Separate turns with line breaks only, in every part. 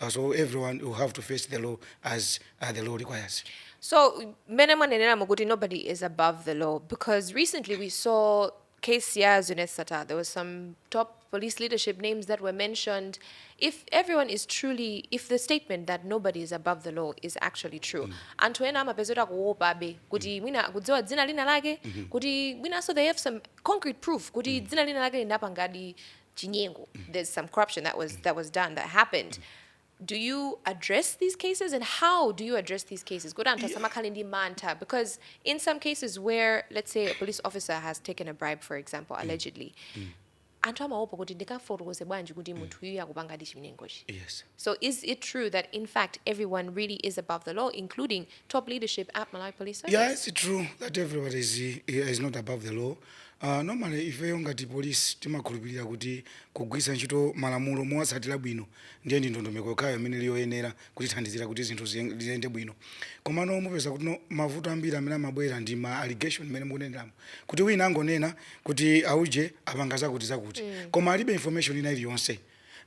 uh, so everyone will have to face the law as uh, the law requires. So,
many mukuti nobody is above the law because recently we saw KCR Zunesata, there was some top police leadership names that were mentioned. If everyone is truly, if the statement that nobody is above the law is actually true, mm. anthu ena amapezera kuopa be kuti mm. mwina kudziwa dzina lina lake mm-hmm. kuti mwinanso they have some concrete proof kuti mm. dzina lina lake linapangadi chinyengo there's some corruption that was that was done that happened do you address these cases and how do you address these cases kuti anthu asamakhale ndi mantha because in some cases where let's say a police officer has taken a bribe for example allegedly anthu amaopa kuti ndikafotokoze bwanji kuti munthu uyu akupanga ndi chinyengochi yes so is it true that in fact everyone really is above the law including top leadership at malawi police service Yeah, it's true that
everybody is, is not above the law. Uh, normally ifeyo ngati police timakhulupirira kuti kugwiritsa ntchito malamulo mowatsatira bwino ndiye ndi ndondomeko yokhayo imene ili yoyenera kutithandizira kuti zinthu ziyen- ziyende bwino komano mupeza kuti no mavuto ambiri amene amabwera ndi ma allegation amene mukuneneramo kuti wina angonena kuti auje apanga zakuti zakuti koma alibe information ina iliyonse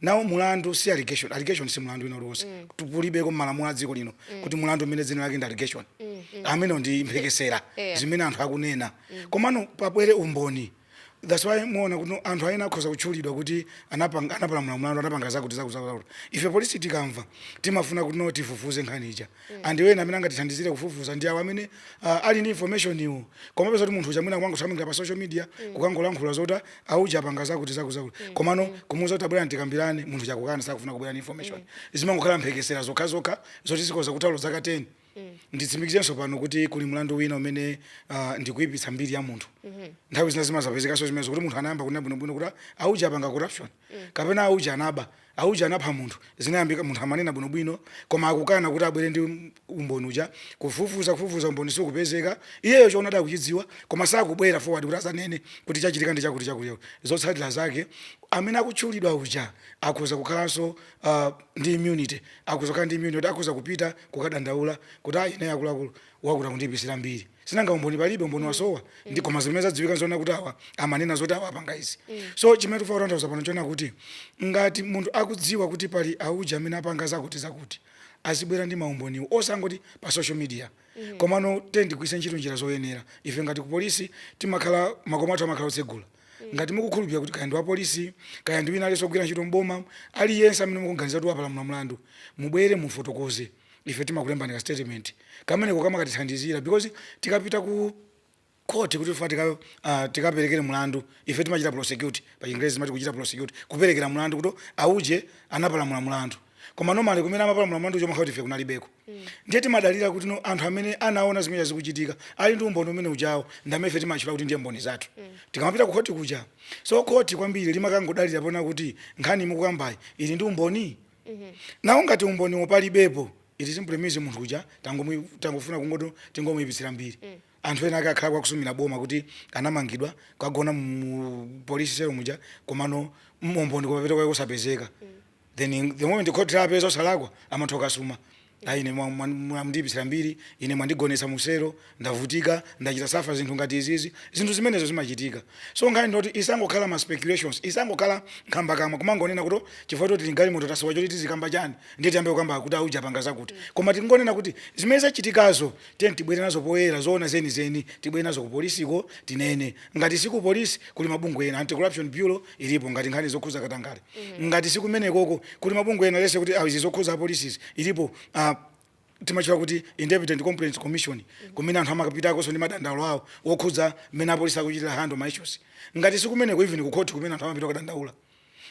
Now mulandu si allegation. Allegation si mulandu wina uliwonse. Kulibeko m'malamulo a dziko lino kuti mulandu umene dzina lake ndi allegation. Amenewo ndi mphekesera Yeah. zimene anthu akunena. Komano pabwere umboni. That's why muona kuti anthu ena akhoza kutchulidwa kuti anapanga anapalamula mulandu anapanga zakuti zakuti zakuti. Ife polisi tikamva timafuna kuti no tifufuze nkhani ija. mm. and ena amene angatithandizire kufufuza ndi awo amene uh, ali ndi information iwo koma mupeza kuti munthu uja mwina kuangothamangira pa social media mm. kukangolankhula zoti auja apanga zakuti zakuti zakuti mm. komano mm. kumuuza kuti abwere tikambirane munthu uja akukana sakufuna kubwera ndi information mm. zimangokhala mphekesera zokha zokha zoti zikhoza kutha olo zaka 10 Mm. nditsimikizenso pano kuti kuli mlandu wina umene uh, ndikuipitsa mbiri ya munthu mm -hmm. nthawi zina zimazapezekanso zimenezo kuti munthu anayamba kunena bwinobwino kuti auja apanga corruption kapena auje anaba, auje anapha munthu, zinayambika, munthu amanena bwino bwino, koma akukana kuti abwere ndi umboni uja, kufufuza, kufufuza, umboni sukupezeka, iyeyo choonadi akuchidziwa, koma sakubwera forward kuti adzanene kuti chachitika ndi chakuti, chakuti, chakuti, zotsatira zake, amene akutchulidwa uja akhoza kukhalanso ah, ndi immunity, akhoza kukhala ndi immunity yoti akhoza kupita kukadandaula kuti ah, ine akuluakulu, wakuti akundiipitsira mbiri. sinanga umboni palibe umboni mm. wasowa mm. ndi koma zimene zadziwika nzoona kuti awa amanena zoti awa apanga izi mm. so chimene tikufuna kutanthauza pano nchonena kuti ngati munthu akudziwa kuti pali auja amene apanga zakuti zakuti azibwera ndi maumboniwo osangoti pa social media mm. komano then tigwiritse ntchito njira zoyenera ife ngati ku polisi timakhala makhomo athu amakhala otsegula mm. ngati mukukhulupirira kuti kaya ndi wapolisi kaya ndi wina aliyense ogwira ntchito mboma aliyense amene mukuganiza kuti wapalamula mlandu mubwere mufotokoze ife timakulembani ka statement kameneko kamakatithandizira because tikapita ku court kuti tifuna tika, uh, tikaperekere mlandu ife timachita prosecute pa chingerezi timati kuchita prosecute kuperekera mlandu kuti auje anapalamula mlandu koma normally kumene amapalamula mlandu chimakhala kuti ife kunalibeko ndiye timadalira kuti no anthu amene anaona zimene zikuchitika ali ndi umboni umene ujawo ndi amene ife timatchula kuti ndiye mboni zathu tikamapita ku khoti kuja so khoti kwambiri limakangodalira poona kuti nkhani mukukambayi ili ndi umboni Now ngati umboni uwo palibepo it simply means munthu uja tangomu- tangofuna kungoti tingomuyipitsira mbiri anthu ena ake akhala kwakusumira boma kuti anamangidwa kukagona mu polisi selo muja komano umboni kumapeto kwake kusapezeka then the moment khoti lapeza osalakwa amatha kukasuma Ayi, ine mwa, mwa, mwandiipitsira mbiri ine, mwandigonetsa mu selo, ndavutika, ndachita suffer zinthu ngati izizi. Zinthu zimenezo zimachitika. So nkhani ndi yoti isangokhala ma speculations, isangokhala nkhambakamwa, kumangonena kuti oh, chifukwa choti tili m'galimoto tasowa choti tizikamba chani, ndiye tiyambe kukamba kuti a uja apanga zakuti. Koma tingonena kuti zimene zachitikazo tiyeni tibwere nazo poyera, zoona zenizeni, tibwere nazo ku polisiko tinene. Ngati si ku police, kuli mabungwe ena, Anti-Corruption Bureau, ilipo ngati nkhani zokhuza katangale mm. ngati sikumenekoko kuli mabungwe ena let's say kuti ah, izi zokhuza apolisizi ilipo uh, imatchedwa kuti independent complaints commission mm-hmm. kumene anthu amakapitakonso ndi madandaulo awo wokhudza mmene apolisi akuchitira handle ma issues ngati sikumeneko even ku court kumene anthu amapita kudandaula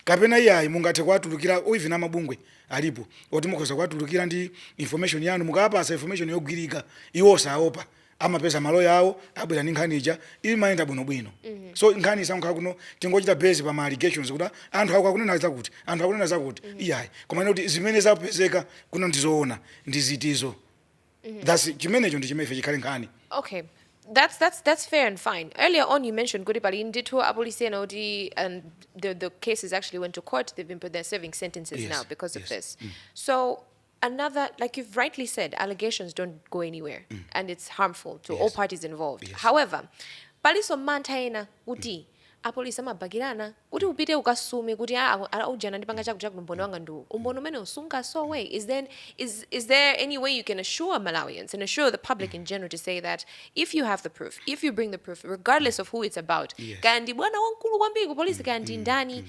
kapena iyayi mungathe kuwatulukira even amabungwe alipo oti mukhoza kuwatulukira ndi information yanu mukawapatsa information yogwirika iwo saopa amapeza maloya awo abwera ndi nkhani ija imayenda bwinobwino mhm. so nkhani isakhale kuti tingochita base pa ma allegations kuti anthu aku akunena zakuti anthu akunena zakuti mhm. iyayi koma kuti zimene zapezeka kuno ndizoona ndi izizo mhm. thats chimenecho ndi chimene ife chikhale nkhani
okay that's that's that's fair and fine. Earlier on, you mentioned kuti pali ndithu apolisi ena kuti and the the cases actually went to court. They've been put there serving sentences yes, now because yes. of this. Mm. So another like you've rightly said allegations don't go anywhere mm. and it's harmful to yes. all parties involved yes. however palinso mantha ena kuti mm. apolisi amabakirana kuti upite ukasume kuti ah, ah, ah, ujeni wandipanga chakuti chakuti umboni wanga ndi uwu umboni umene ukungosowa is then is, is there any way you can assure malawians and assure the public in general to say that if you have the proof if you bring the proof regardless of who it's about kaya ndi bwana wamkulu kwambiri ku polisi kaya ndi mm, mm, ndani mm.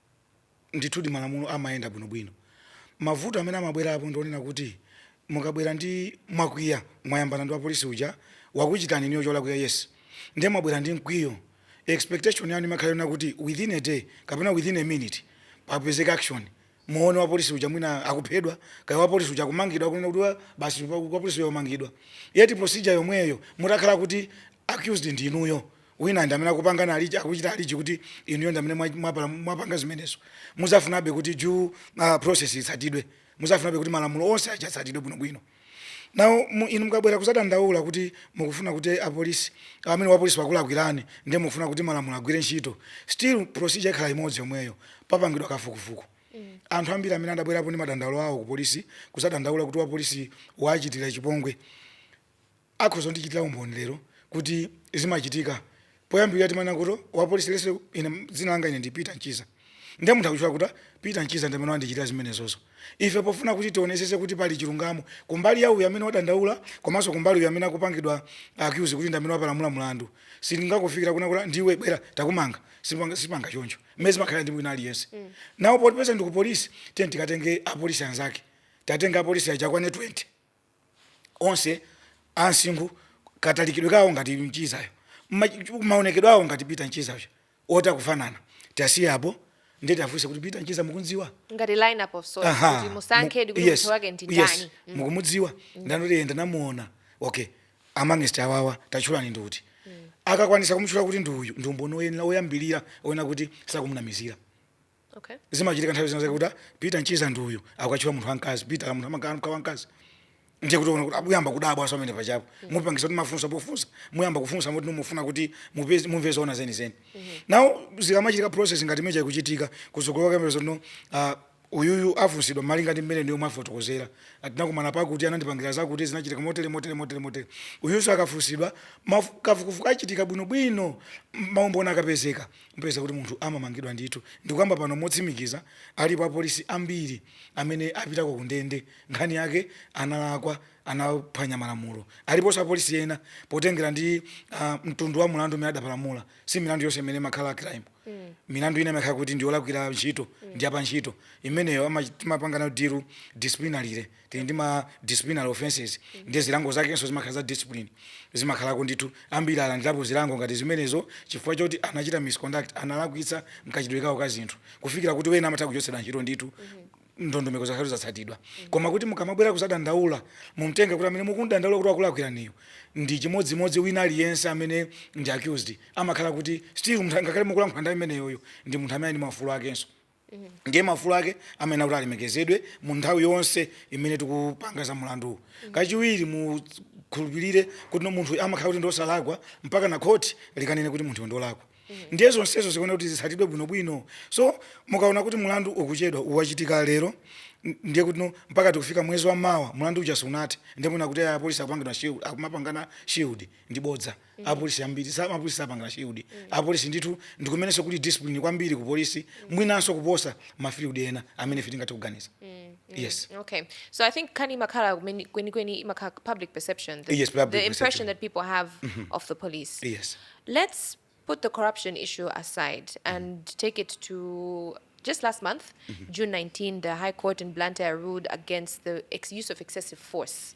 ndithudi malamulo amayenda bwinobwino. Mavuto amene amabwerapo ndi onena kuti mukabwera ndi mwakwiya, mwayambana ndi wapolisi uja, wakuchitani inuyo cholakwika, yes, ndiye mwabwera ndi mkwiyo, expectation yanu imakhala yonena kuti within a day kapena within a minute papezeke action, muone wapolisi uja mwina akuphedwa, kaya wapolisi uja akumangidwa, kunena kuti wa, basi wapolisiyo wamangidwa, yet procedure yomweyo mutakhala kuti accused ndi inuyo. Wina ndi amene akupanga allege, akuchita allege kuti inuyo ndi amene mwa, mwapala, mwapanga zimenezo. Muzafunabe kuti due uh, process itsatidwe. Muzafunabe kuti malamulo onse aja atsatidwe bwinobwino. Now mu, inu mukabwera kuzadandaula kuti mukufuna kuti apolisi amene wapolisi wakulakwirani ndiye mukufuna kuti malamulo agwire ntchito. Still procedure ikhala imodzi yomweyo. Papangidwa kafukufuku. Anthu ambiri amene adabwerapo ndi madandaulo awo ku polisi kuzadandaula kuti wapolisi waachitira chipongwe. akhoza kundichitira umboni lero kuti zimachitika poyambirira timanena kuti wapolisi lese ine dzina langa ine ndi Peter Mchiza ndiye munthu akutchula kuti Peter Mchiza ndi amene wandichitira zimenezozo ife pofuna kuti tionesese kuti pali chilungamo kumbali ya uyu amene wadandaula komanso kumbali uyu amene akupangidwa accuse kuti ndi amene wapalamula mlandu sitingakufikira kuna kuti ndiwe bwera takumanga sitipanga, sitipanga choncho mmene zimakhala ndi wina aliyense mm. nawo potipeza ndi ku polisi tiye tikatenge apolisi anzake tatenga apolisi aja kwane 20 onse a msinkhu katalikidwe kawo ngati mchizayo mma- maonekedwe awo ngati peter mchiza uja oti akufanana tiyasiye apo ndiye tiyafunse kuti peter mchiza mukumdziwa ngati lineup of
sorts Aha, kuti mu- musankhe kuti yes, munthu wake ndi yes, ndani Mm.
mukumudziwa ndani kuti yenda namuona okay amangest awawa tatchulani ndi uti akakwanisa kumtchula kuti ndi uyu ndi umboni oyenera oyambirira oyenera kuti sakumunamizira
Okay. zimachitika nthawi zina
zake kuti ah, peter mchiza ndi uyu akukatchula munthu wamkazi peter la munthu amamka wamkazi ndiye kuti ona kuti akuyamba kudabwa aa si amene pachapo mupangisa kuti mafunso pofunsa muyamba kufunsa moti mufuna kuti mupeze- mumve zoona zenizeni now zikamachitika process ngati imeneyi ikuchitika kutsogolo kamera zano ah, uyuyu afunsidwa malinga ndi mmene ndiyo mwafotokozera atinakumana pakuti anandipangira zakuti zinachitika motere motere motere motere uyunso akafunsidwa mafu- kafukufuku achitika bwinobwino maumboni akapezeka Mupeza kuti munthu amamangidwa ndithu. Ndikukamba pano motsimikiza, alipo apolisi ambiri amene apitako kundende nkhani yake analakwa, anaphwanya malamulo. Aliponso apolisi ena, potengera ndi mtundu wa mulandu umene adapalamula, si milandu yonse imene imakhala crime, milandu ina imakhala kuti ndi yolakwira ntchito, ndi ya pantchito, imeneyo timapanga nayo deal disciplinarily. tili ndi ma disciplinary offences ndiye zilango zakenso zimakhala za discipline zimakhalako ndithu ambiri alandirapo zilango ngati zimenezo chifukwa choti anachita misconduct analakwitsa mkachitidwe kawo ka zinthu kufikira kuti ena amatha kuchotsedwa ntchito ndithu ndondomeko zake zatsatidwa koma kuti mukamabwera kuzadandaula mumtenge kuti amene mukumdandaula kuti wakulakwiraniyo ndi chimodzimodzi wina aliyense amene ndi accused amakhala kuti still munthu ngakhale mukulankhula ndi imeneyoyo ndi munthu amene ali ndi maufulu akenso ndiye maufulu ake amayenera kuti alemekezedwe mu nthawi yonse imene tikupanga za mulanduwu kachiwiri mukhulupirire kuti no munthu amakhala kuti ndiosalakwa mpaka na khoti likanene kuti munthu ndolakwa ndiye zonsezo zikuona kuti zitsatidwe bwinobwino so mukaona kuti mulandu ukuchedwa uwachitika lero n- ndiye kuti no mpaka tikufika mwezi wa mawa mulandu uja sunathe ndiye mwina kuti apolisi akupangidwa shield akumapangana shield ndi bodza apolisi ambiri sa- apolisi sapangana shield apolisi ndithu ndikumenenso kuli discipline kwambiri ku polisi mwinanso kuposa mafield ena amene ife tingathe kuganiza yes Okay, so I
think nkhani imakhala kweni kweni- kweni imakhala public perception. The, Yes, public the impression
perception. that
people have of the police. yes
Let's
put the corruption issue aside and take it to just last month, June 19, the High Court in Blantyre ruled against the ex- use of excessive force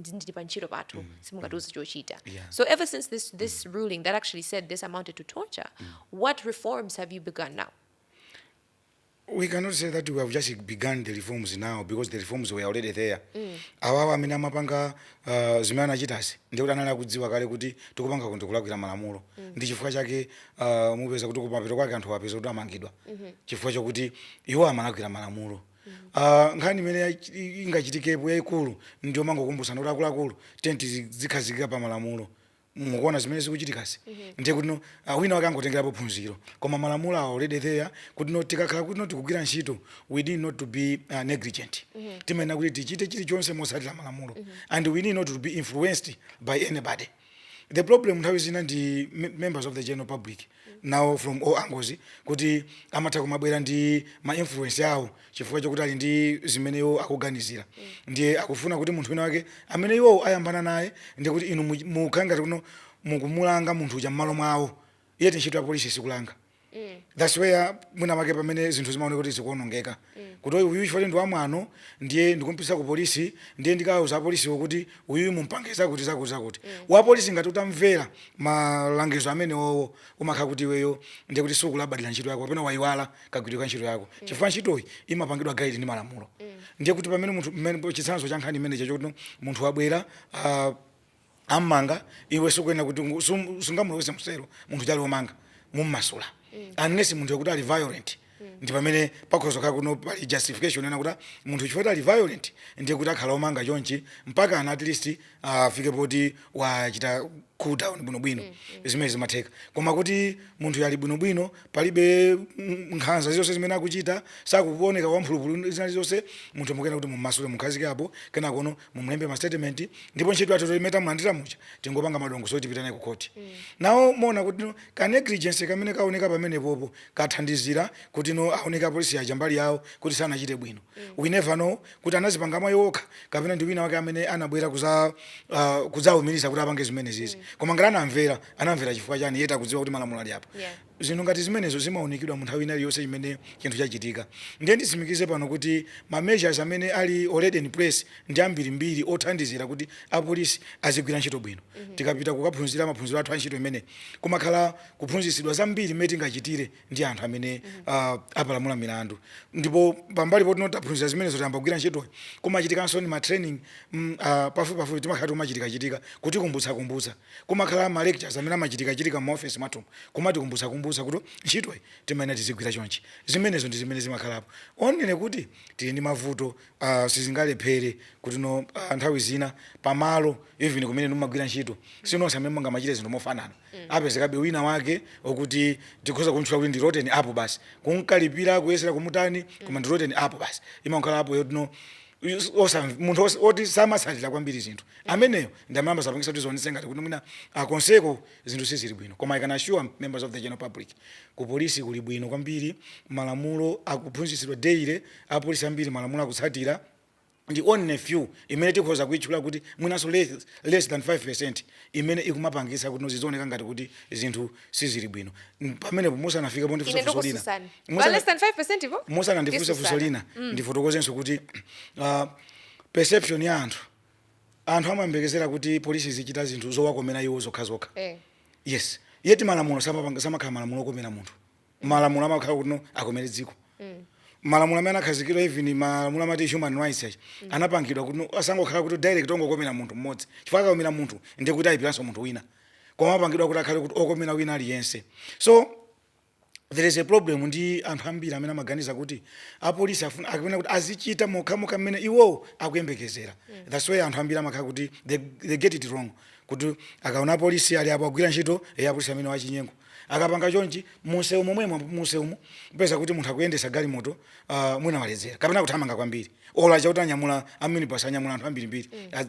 ndi- ndili pa ntchito pathu simungatiuze chochita Yeah. so ever since this, this ruling that actually said this amounted to torture what reforms have you begun now
we cannot say that we have just begun the reforms now because the reforms were already there awawa amene amapanga uh, zimene anachitazi ndikuti anali akudziwa kale kuti tikupanga kuti kulakwira malamulo ndi chifukwa chake uh, mupeza kuti kumapeto kwake anthu apeza kuti amangidwa chifukwa chakuti iwo amalakwira malamulo Ah, nkhani imene yachi- i- ingachitikepo yayikulu ndi yomangokumbutsana kuti akuluakulu tiyeni tizi- zikhazikika pa malamulo mukuona zimene zikuchitikazi ndiye kuti no ah, wina wake angotengerapo phunziro koma malamulo ali already there kuti no tikakhala kuti no tikugwira ntchito we need not to be uh, negligent timayenera kuti tichite chilichonse motsatira malamulo and we need not to be influenced by anybody the problem nthawi zina ndi members of the general public nawo from all angles kuti amatha kumabwera ndi ma influence awo chifukwa chokuti ali ndi zimene iwo akuganizira ndiye akufuna kuti munthu wina wake amene iwowo ayambana naye ndiye kuti inu mukhala ngati kuti no mukumulanga munthu uja mmalo mwawo yet ntchito ya polisi sikulanga mm. that's where mwina make pamene zinthu zimaoneka kuti zikuonongeka mm. kuti uyu chifukwa ndi wamwano ndiye ndikumpititsa ku polisi ndiye ndikauza apolisiwo kuti uyu mumpange zakuti zakuti zakuti mm. wapolisi ngati utamvera malangizo amenewowo umakhala kuti iweyo ndiye kuti sukulabadira ntchito yako kapena wayiwala kagwiridwe ka ntchito yako mm. chifukwa ntchitoyi imapangidwa guide ndi malamulo mm. ndiye kuti pamene munthu chitsanzo cha nkhani imenecho chokuti munthu wabwera uh, ammanga iwe sukuyenera kuti ungu- sum- sungamulowese m'selo munthu uja ali omanga mummasula unless munthu uja kuti ali violent ndi pamene pakhoza kukhala kuti no pali justification yonena kuti munthu chifukwa kuti ali violent ndiye kuti akhala omanga chonchi mpaka ana at least afike poti wachita cool down bwinobwino zimene zimatheka koma kuti munthu uja ali bwinobwino palibe mm, nkhanza zonse zimene akuchita sakuoneka wamphulupulu zina zonse munthu mukuyenera kuti mummasule mukhazike apo kenakono mumulembe ma statement ndipo ntchito yathu poti meneyu tamulandira uja tingopanga madongosolo tipita naye ku khoti now muona kuti no ka negligence kamene kaoneka pamenepopo kathandizira kuti no aoneke apolisi aja mbali yawo kuti sanachite bwino we never know kuti anazipanga mwa iwo okha kapena ndi wina wake amene anabwera kuza uh, kudzaumiriza kuti apange zimenezizi koma ngati anamvera anamvera chifukwa chani yet akudziwa kuti malamulo alipo Yeah. Zinthu ngati zimenezo zimaunikidwa mu nthawi ina iliyonse imene chinthu chachitika. Ndiye nditsimikize pano kuti ma measures amene ali already in place ndi ambiri mbiri othandizira kuti apolisi azigwira ntchito bwino. Tikapita kukaphunzira maphunziro athu a ntchito imeneyi, kumakhala kuphunzitsidwa zambiri mmene tingachitire ndi anthu amene apalamula milandu. Ndipo pambali poti no taphunzira zimenezo tayamba kugwira ntchitoyi, kumachitikanso ndi ma training pafupipafupi timakhala akumachitikachitika kutikumbutsakumbutsa. Kumakhala ma lectures amene amachitikachitika mma office mwathumu kumatikumbutsakumbutsa kuti ntchitoyi timayenera tizigwira chonchi. Zimenezo ndi zimene zimakhalapo. Only kuti tili ndi mavuto a sizingalephere kutino a nthawi zina pamalo even kumene inu mmagwira ntchito si nonse amene mungamachite zinthu mofanana. Apezekabe wina wake okuti tikhoza kumtchula kuti ndi rotten apple basi. Kumkalipira kuyesera kumutani koma ndi rotten apple basi. Imangokhala apple yotino. Yus- osamv- munthu os- oti samatsatira kwambiri zinthu ameneyo nde amene amazapangisa kuti zioneke ngati kuti mwina akonseko zinthu sizili bwino koma i can assure members of the general public ku polisi kuli bwino kwambiri malamulo akuphunzitsidwa daily apolisi ambiri malamulo akuwatsatira ndi only few imene tikhoza kuitchula kuti mwinanso less, less than 5% imene ikumapangisa kuti no zizioneka ngati kuti zinthu sizili bwino N- pamenepo musanafika ine pondifunsa lina ndikufunsani Musa- Pa
less than 5% po? musanandifunse Yesu funso sana.
lina ndifotokozenso kuti uh, perception ya anthu anthu amayembekezera kuti polisi izichita zinthu zowakomera iwo zokhazokha Eh. yes yeti malamulo samapanga- samakhala malamulo okomera munthu malamulo amakhala kuti no akomere dziko malamulo amene anakhazikidwa even malamulo amati human rights achani anapangidwa kuti no asangokhala kuti direct ongokomera munthu mmodzi chifukwa akakomera munthu ndiye kuti ayipiranso munthu wina koma apangidwa kuti akhale kuti okomera wina aliyense so there is a problem ndi anthu ambiri amene amaganiza kuti apolisi afuna akuyenera kuti azichita mokhamokha mmene iwowo akuyembekezera that's why anthu ambiri amakhala kuti they, they get it wrong kuti akaona apolisi ali apo agwira ntchito e apolisi amenewa achinyengo akapanga chonchi munsewu momwemo munsewumu kupeza kuti munthu akuyendetsa galimoto uh, mwina waledzera kapena kuthamanga kwambiri olo achakuti anyamula aminibus anyamula anthu ambirimbiri mm.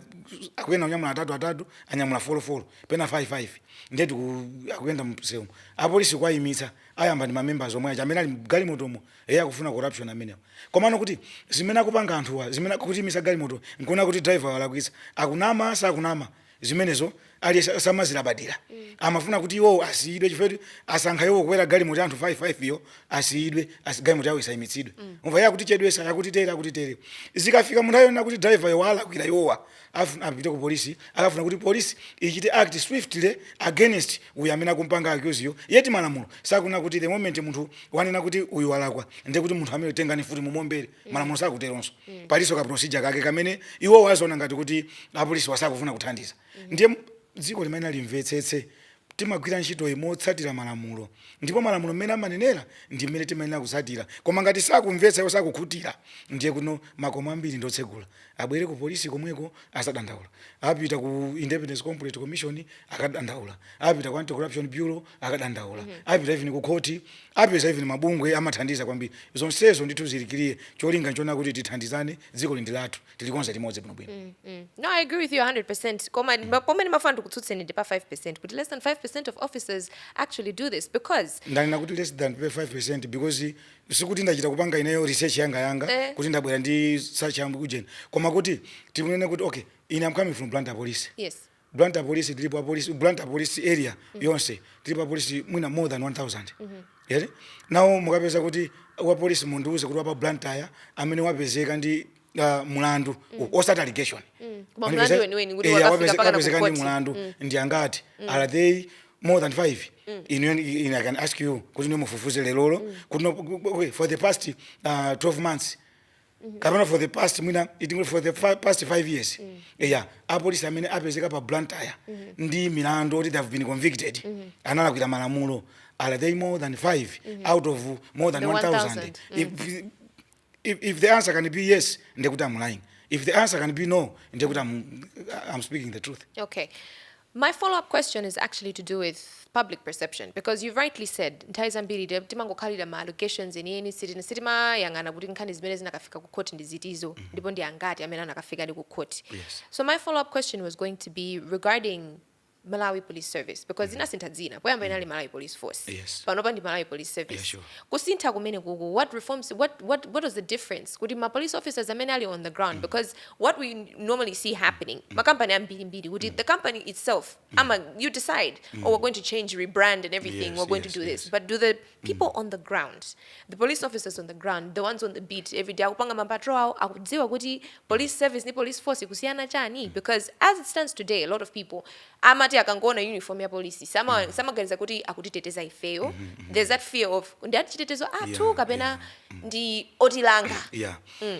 akuyenera kunyamula atatu atatu anyamula folofolo pena 5 5 ndiye kuti akuyenda mseu apolisi kuwayimitsa ayamba ndi mamembers omwe aja amene ali mgalimotomo eye akufuna corruption amenewo komano kuti zimene akupanga anthuwa zimene akutiimitsa galimoto nkuona kuti driver walakwitsa akunama sakunama zimenezo aliyense samazilabadira amafuna kuti iwowo asiyidwe chifukwa kuti asankha iwowo kukwera galimoto ya anthu 5 5 yo asiyidwe asi galimoto yawo isayimitsidwe umva iye akutichedwesa akutitere akutitere zikafika munthawi yonena kuti driver yo walakwira iwowa Afuna apite ku police akafuna kuti police ichite act swiftly against uyo amene akumpanga accuse yo, yet malamulo sakunena kuti the moment munthu wanena kuti uyu walakwa ndiye kuti munthu ameneyo tengani mfuti mumuombere, malamulo sakuteronso. Palinso ka procedure kake kamene iwowo aziona ngati kuti apolisiwa sakufuna kuthandiza. Ndiye dziko limayenera limvetsetse Timagwira ntchitoyi motsatira malamulo ndipo malamulo mmene amanenera ndi mmene timayenera kutsatira koma ngati sakumvetsa iwo sakukhutira ndiye kuti no makomo ambiri ndi otsegula abwere ku police komweko azadandaula apite ku Independent Complaints Commission akadandaula apite ku Anti Corruption Bureau akadandaula apite even ku court apeze even mabungwe amathandiza kwambiri zonsezo ndithu zili clear cholinga nchonena kuti tithandizane dzikoli ndi lathu tilikonza limodzi bwinobwino mm, mm. no i agree
with you 100 koma mm. pomene mafuna ndikutsutseni ndi pa 5 kuti less than 5 of officers actually do this because ndanena kuti less than
5 because sikuti ndachita kupanga ineyo research yanga yanga eh. kuti ndabwera ndi such mukujeni koma kuti tikunene kuti okay ine I'm coming from blantyre police yes
Blantyre police
tilipo apolisi Blantyre police area yonse tilipo apolisi mwina more than 1000 eee now mukapeza kuti wapolisi mundiuze kuti wapa Blantyre amene wapezeka ndi uh, mulandu osati allegation Koma Mwanipeza-
mlandu weniweni kuti Eh, wakafika wapeze- mpaka kukhoti na wapezeka ndi mulandu
ndi angati are they more than five i i can ask you kuti nimufufuze lelolo kuti no- okay, for the past uh, 12 months kapena for the past mwina tingonena for the fi- past 5 years eya apolisi amene apezeka pa blantyre ndi milandu oti they have been convicted analakwira malamulo are they more than 5 out of more than The 1000 if, if, if the answer can be yes ndekuti i'm lying if the answer can be no ndekuti I'm, i'm speaking the truth okay
My follow up question is actually to do with public perception because you've rightly said nthawi zambiri te- timangokhalira ma allegations enieni sitina- sitimayang'ana kuti nkhani zimene zinakafika ku court ndi zitizo ndipo ndi angati amene anakafikadi ku court Yes. so my follow up question was going to be regarding malawi police service because inasintha dzina poyamba inali malawi police force Yes. panopa ndi malawi
police
service Yeah, sure. kusintha
kumene kuku
what reforms what, what, what was the difference kuti ma police officers amene ali on the ground because what we normally see happening mm. makampani ambiri mbiri kuti mm. the company itself mm. ama you decide oh, mm. oh we're going to change rebrand and everything yes, we're going yes, to do yes. this but do
the
mm. people mm. on the ground the police officers on the ground the ones on the beat every day akupanga mapatro awo akudziwa kuti police service ni police force kusiyana chani mm. because as it stands today a lot of people amati akangoona uniform ya polisi samaganiza sama, sama kuti akutiteteza ifeyo mm -hmm. there's that fear of ndi atitetezo athu yeah, kapena yeah. ndi otilanga yeah. mm.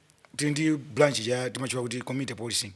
tili ndi branch ina timatchula kuti community policing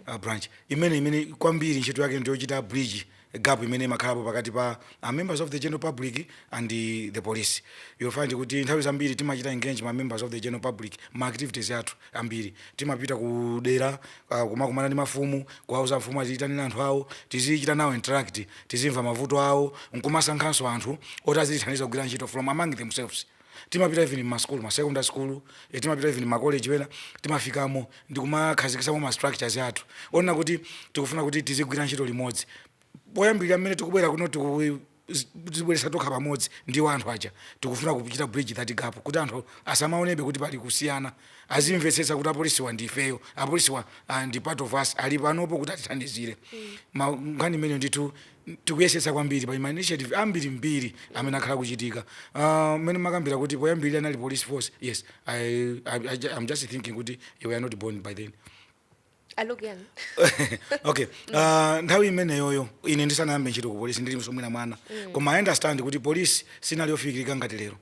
uh, branch imene imene kwambiri ntchito yake ndiyochita bridge gap imene imakhalapo pakati pa uh, members of the general public and the, the police you'll find kuti nthawi zambiri timachita engage ma members of the general public ma activities athu ambiri timapita ku dera uh, kumakumana ndi mafumu kuwauza mafumu aziyitanira anthu awo tizichita nawo interact tizimva mavuto awo nkumasankhanso anthu oti azitithandiza kugwira ntchito from among themselves timapita even mmasukulu ma secondary school eh, timapita even makoleji ena timafikamo ndikumakhazikisamo ma structures athu onena kuti tikufuna kuti tizigwira ntchito limodzi poyambirira mmene tikubwera kuno tikudzibweretsa tokha pamodzi ndi anthu aja tikufuna kuchita bridge that gap kuti anthu asamaonenso kuti pali kusiyana azimvetsetsa kuti apolisiwa ndi ifeyo apolisiwa ah, ndi part of us ali panopo kuti atithandizire Ma- nkhani imeneyo ndithu Tikuyesetsa kwambiri, pali ma initiative ambirimbiri amene akhala akuchitika. Ah, Mmene mumakambira kuti poyambirira anali police force, yes, I, I, I, ju- I'm just thinking kuti you were not born by then. I look young. okay uh, nthawi imeneyoyo ine ndisanayambe ntchito ku polisi ndili so mwina mwana koma i understand kuti polisi sinali yofikirika ngati lero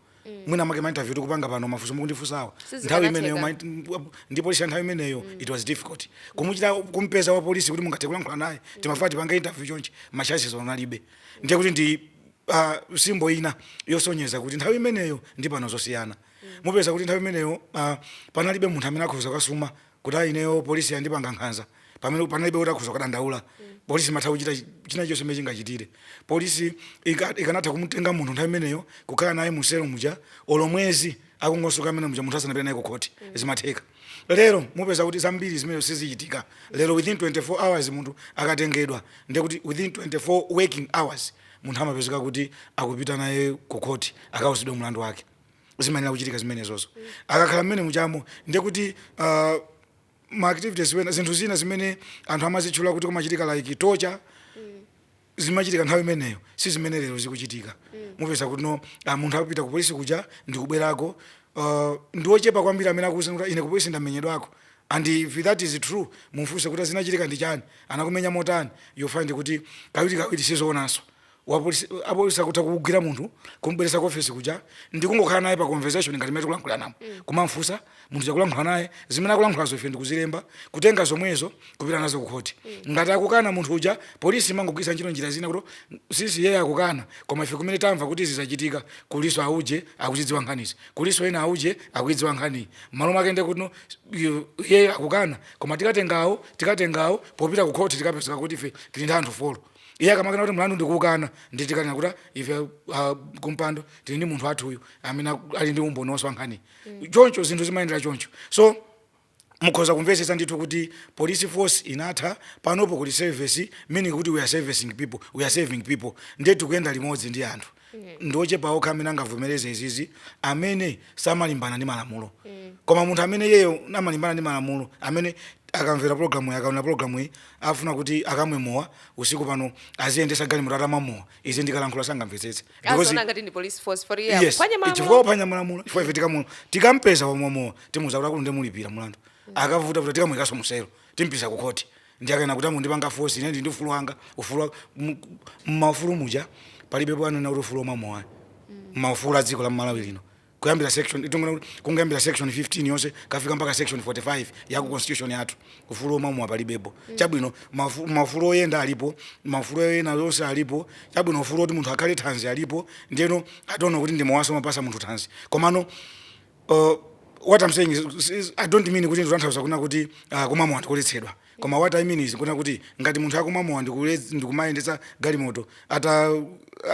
mwina make ma interview tikupanga pano mafunso mukundifunsawa Sizikanatheka. nthawi imeneyo ma int- ndi polisi ya nthawi imeneyo it was difficult kumuchita kumpeza wa polisi kuti mungathe kulankhula naye timafuna tipange interview chonchi ma chances onalibe ndiye kuti ndi uh, simbo ina yosonyeza kuti nthawi imeneyo ndi pano zosiyana mupeza kuti nthawi imeneyo uh, panalibe munthu amene akhoza kukasuma kuti ayi ineyo polisi yandipanga nkhanza pamene panalibe kuti akhoza kukadandaula polisi imatha kuchita chi- china chonse imene chingachitire polisi ika- ikanatha kumutenga munthu nthawi imeneyo kukhala naye muselo muja olo mwezi akungosoka mmenemuja munthu asanapita naye ku khoti zimatheka lero mupeza kuti zambiri zimenezi sizichitika lero within 24 hours munthu akatengedwa ndiye kuti within 24 working hours munthu amapezeka kuti akupita naye ku khoti akauzidwa mlandu wake zimayenera kuchitika zimenezozo akakhala mmene muchamo ndiye kuti uh, ma activities ena zinthu zina zimene anthu amazitchula kuti kumachitika like torture zimachitika nthawi imeneyo si zimene lero zikuchitika mupeza kuti no ah, munthu akupita ku polisi kuja ndikubwerako uh, ndi ochepa kwambiri amene akuuza kuti ine ku polisi ndamenyedwako and if that is true mumfunse kuti zinachitika ndi chani anakumenya motani you find kuti kawirikawiri sizoonanso wa police, a police akutha kugwira munthu kumubweretsa ku office kuja ndikungokhala naye pa conversation ngati mmene tikulankhulanamu mm. kumamfunsa munthu akulankhula naye zimene akulankhulazo ife ndikuzilemba kutenga zomwezo kupita nazo kukhoti mm. ngati akukana munthu uja polisi imangogwiritsa ntchito njira zina kuti sisi yeye akukana koma ife kumene tamva kuti izi zachitika kulinso auje akuzidziwa nkhanizi kulinso ena auje akuidziwa nkhaniyi mmalo mwake nde kuti yeye akukana koma tikatengawo tikatengawo popita kukhoti tikapezeka kuti ife tili ndi anthu folo iye akamakana kuti mlandu ndikuwukana ndi tikanena kuti "Ah, ife ah, kumpando tili ndi munthu wathu uyu amene aku- ali ndi umboni wonse wa nkhani choncho zinthu zimayendera choncho so mukhoza kumvetsetsa ndithu kuti police force inatha panopo kuli service meaning kuti we are servicing people we are saving people ndiye tikuyenda limodzi ndi anthu ndi ochepa okha amene angavomereze izizi amene samalimbana ndi malamulo koma munthu amene iyeyo amalimbana ndi malamulo amene akamvera programu iyi akaonera programu iyi afuna kuti akamwe mowa usiku pano aziyendetsa galimoto atamwa mowa izi ndikalankhula sangamvetsetse Because- aziona ngati ndi
police force for real yes phwanya malamulo. chifukwa akuphwanya
malamulo chifukwa ife tikamulo tikampeza wamwa mowa timuuza kuti akulu ndemulipira mulandu akavuta vuta tikamuyikanso muselo timpititsa ku khoti Ndiye akena kuti amundipanga force ine ndi ufulu wanga, ufulu wa mmaufulu muja palibepo anena kuti ufulu omwa mowa. Mmaufulu a dziko la Malawi lino. Kuyambira section itonena kuti kungoyambira section 15 yonse kukafika mpaka section 45 ya ku constitution yathu ufulu omwa mowa palibepo. Chabwino maufulu maufulu oyenda alipo, maufulu ena onse alipo. Chabwino ufulu oti munthu akhale thanzi alipo. Ndiyeno I don't know kuti ndi mowanso umapatsa munthu thanzi. Komano. Uh, what I'm saying is, is I don't mean kuti ndikutanthauza kuna kuti uh, kumwa mowa ndikuletsedwa koma what I mean is kuna kuti ngati munthu akumwa mowa ndikule- ndikumayendetsa galimoto ata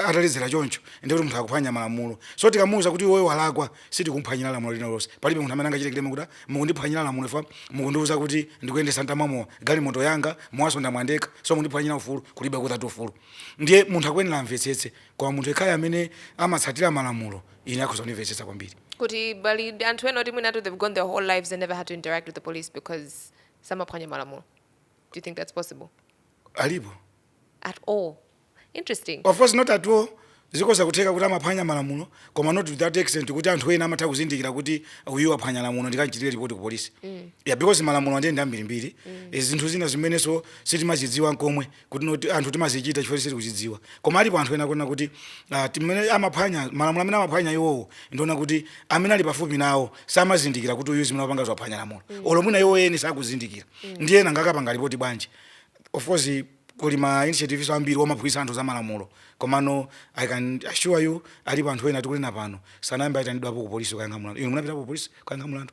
ataledzera choncho ndi kuti munthu akuphwanya malamulo so tikamuwuza kuti iweyo walakwa sitikumphwanyira lamulo lina lonse palibe munthu amene angachite claim kuti mukundiphwanyira lamulo ifa mukundiwuza kuti ndikuyendetsa ntamwa mowa galimoto yanga mowaso ndamwa ndekha so mukundiphwanyira ufulu kulibe kutatu ufulu ndiye munthu akuyenera amvetsetse koma munthu yekhayo amene amatsatira malamulo ine akhoza kundimvetsetsa kwambiri kuti pali
ndi anthu ena oti mwinatu they've gone their whole lives and never had to interact with the police because samaphwanya malamulo do you think that's possible alipo
at
all interesting of course not at
all zikhoza kutheka kuti amaphwanya malamulo koma not to that extent kuti anthu ena amatha kuzindikira kuti uyu aphwanya lamulo ndikanchitire ripoti ku polisi yeah because malamulo ndi ambirimbiri Eh, zinthu zina zimenenso sitimazidziwa nkomwe kuti no ti- anthu timazichita chifukwa sitiri kuzidziwa koma alipo anthu ena akuona kuti uh, timene amaphwanya malamulo amene amaphwanya iwowo ndiona kuti amene ali pafupi nawo samazindikira kuti uyu zimene apanga zaphwanya lamulo mm. olo mwina iwo eni sakuzindikira mm. ndiye ena ngakapanga lipoti bwanji of course kuli ma initiatives ambiri omaphunzitsa anthu za malamulo komano i can assure you alipo anthu ena tikunena pano sanayambe aitanidwapo ku polisi kuyankha mulandu inu munapitapo ku polisi kuyankha mulandu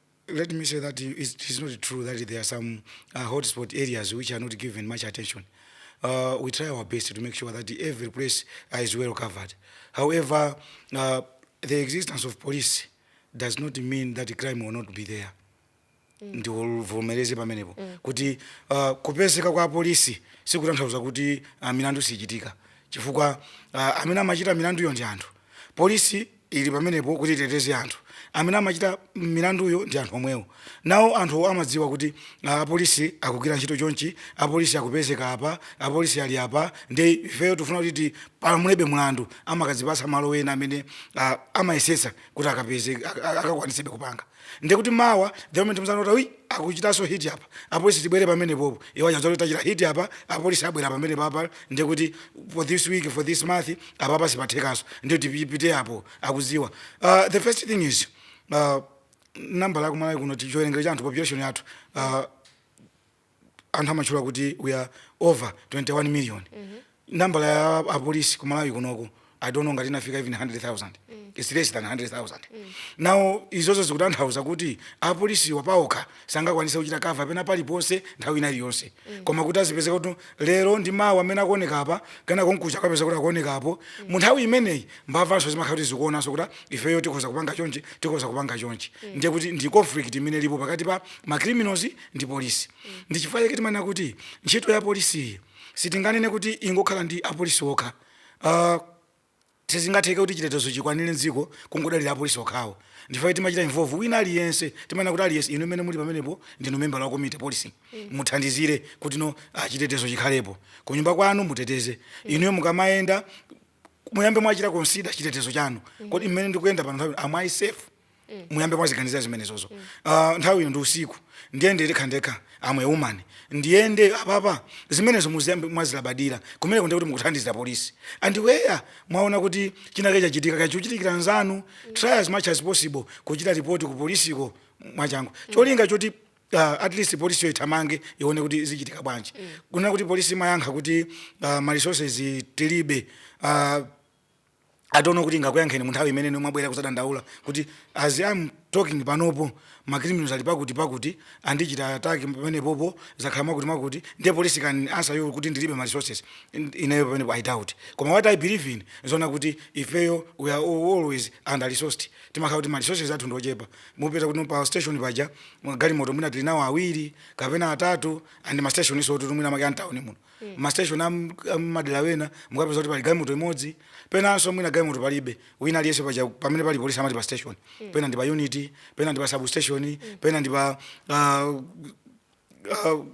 Let me say that it is not true that there are some uh, hotspot areas which are not given much attention. Uh, we try our best to make sure that every place is well covered. However, uh, the existence of police does not mean that crime will not be there. Mm. ndivomereze pamenepo mm. kuti uh, kupezeka kwa polisi sikutanthauza kuti uh, milandu sichitika chifukwa uh, amene amachita milanduyo ndi anthu polisi ili pamenepo kuti iteteze anthu. Amene amachita milanduyo ndi anthu omwewo. Nawo anthuwo amadziwa kuti ah, apolisi akugwira ntchito chonchi, apolisi akupezeka apa, apolisi ali apa, ndiye ifeyo tifuna kuti tipalamulebe mulandu. Amakadzipatsa malo ena amene ah, amayesetsa kuti akapeze, ak- ak- akakwanisebe kupanga. ndiye kuti mawa the moment mwaona kuti awa akuchitanso hit apa apolisi tibwere pamenepopo iwo achaza kuti tachita hit apa apolisi abwera pamenepapa ndiye kuti for this week for this month apapa sipathekanso ndiye kuti tipite apo akuziwa uh, the first thing is uh, nambala yakumalawi kuno chiwerengero cha anthu population yathu uh, anthu amatchula kuti we are over 21 million nambala ya apolisi ku malawi kunoko i don't know ngati inafika even 100000 its less than 100000 now izozo zikutanthauza kuti apolisiwa paokha sangakwanise kuchita cover pena paliponse nthawi ina iliyonse koma kuti azipezeka kuti lero ndi malo amene akuoneka apa kunja kukacha akapezeka kuti akuoneka apo mu nthawi imeneyi mbavanso zimakhala kuti zikuonanso kuti ifeyo tikhoza kupanga chonchi tikhoza kupanga chonchi ndiye kuti ndi conflict imene ilipo pakati pa ma criminals ndi polisi ndi chifukwa chake timanena kuti ntchito ya polisi iyi sitinganene kuti ingokhala ya apolisi okha uh, sizingatheke kuti chitetezo chikwanire mdziko kungodalira apolisi okhawo ndifake timachita involve wina aliyense timanena kuti aliyense inu mmene muli pamenepo ndinu member la community policing muthandizire kuti no ah, chitetezo chikhalepo kunyumba kwanu muteteze inuyo mukamayenda muyambe mwachita consider chitetezo chanu kodi mmene ndikuyenda pano nthawi am i safe muyambe mwaziganizira zimenezozo Ah, nthawi ino ndi usiku ndiyende ndekha ndekha am a woman ndiyende apapa zimenezo muziyamba mwazilabadira kumeneko ndiye kuti mukuthandizira polisi and where mwaona kuti chinake chachitika chachitikira nzanu try as much as possible kuchita ripoti ku polisiko mwachangu cholinga choti uh, at least polisi yo ithamange ione kuti zichitika bwanji mm. kunena kuti polisi imayankha kuti uh, ma resources tilibe uh, I don't know kuti ingakuyankheni munthawi imene inu mwabwera kuzadandaula kuti as am talking panopo ma criminals ali pakuti pakuti andichita attack pamenepo pazakhala mwakuti mwakuti ndiye police can answer you kuti ndilibe ma resources ineyo pamenepo i doubt koma what i believe ndi zoona kuti ifeyo we are always under resourced timakhala kuti ma resources athu ndiochepa mupeza kuti pa station paja galimoto mwina tili nawo awiri kapena atatu and ma station is kuti mwina makamaka a m'tauni muno mm. ma station am, am madera ena mukapeza kuti pali galimoto imodzi penanso mwina galimoto palibe si paliponse paja pamene pali polisi amati pa station mm. pena ndi pa unit pena ndi pa substation mm. pena ndi pa uh, uh,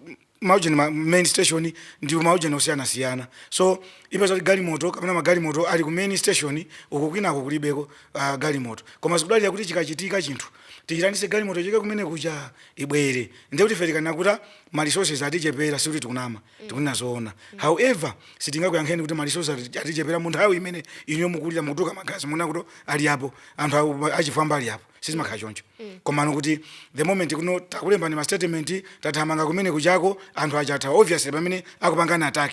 maujeni ma main station ndi maujeni osiyanasiyana so upeza kuti galimoto kapena magalimoto ali ku main station uku kwinako kulibeko uh, galimoto koma zikudalira kuti chikachitika chinthu tiitanitse galimoto ichoke kumene kuja ibwere ndiye kuti ife tikanena kuti ma resources atichepera sikuti tikunama tikunena zoona however sitingakuyankheni kuti ma resources ati- atichepera mu nthawi imene inuyo mukulira mukutuluka magazi mukunena kuti ali apo anthu awo- achifwamba ali apo sizimakhala choncho komano kuti the moment kuti takulembani ma statement tathamanga kumene kujako anthu aja athawa obviously pamene akupangani attack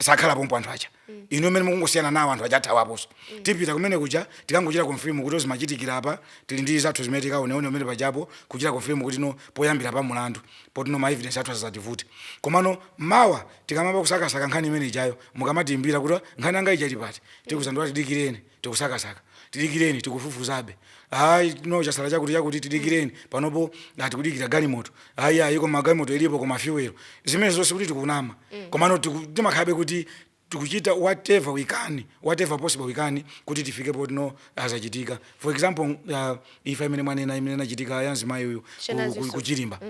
sakhala pompo anthu aja inu mmene mukungosiyana nawo anthu aja athawapo so tipita kumene kuja tikangochita confirm kuti zimachitikira apa tili ndi zathu zimene tikaoneone pamene pajapo kuchita confirm kuti no poyambira pa mulandu poti no ma evidence athu asazativute komano mawa tikayamba kusakasaka nkhani imene ijayo mukamatiimbira kuti nkhani yanga ija ili pati tikuuzani kuti tidikireni tikusakasaka tidikireni tikufufuzabe ayi no chasala chakuti chakuti tidikireni panopo ayi tikudikira galimoto ayi ayi koma galimoto ilipo koma fuel zimenezo si kuti tikunama mm. komano tiku- timakhalabe kuti tikuchita whatever we can whatever possible we can kuti tifike poti zina zachitika for example uh, imfa imene mwanena imene inachitika ya mzimayi uyu ku- Shanazi ku- Yusuf. ku Chirimba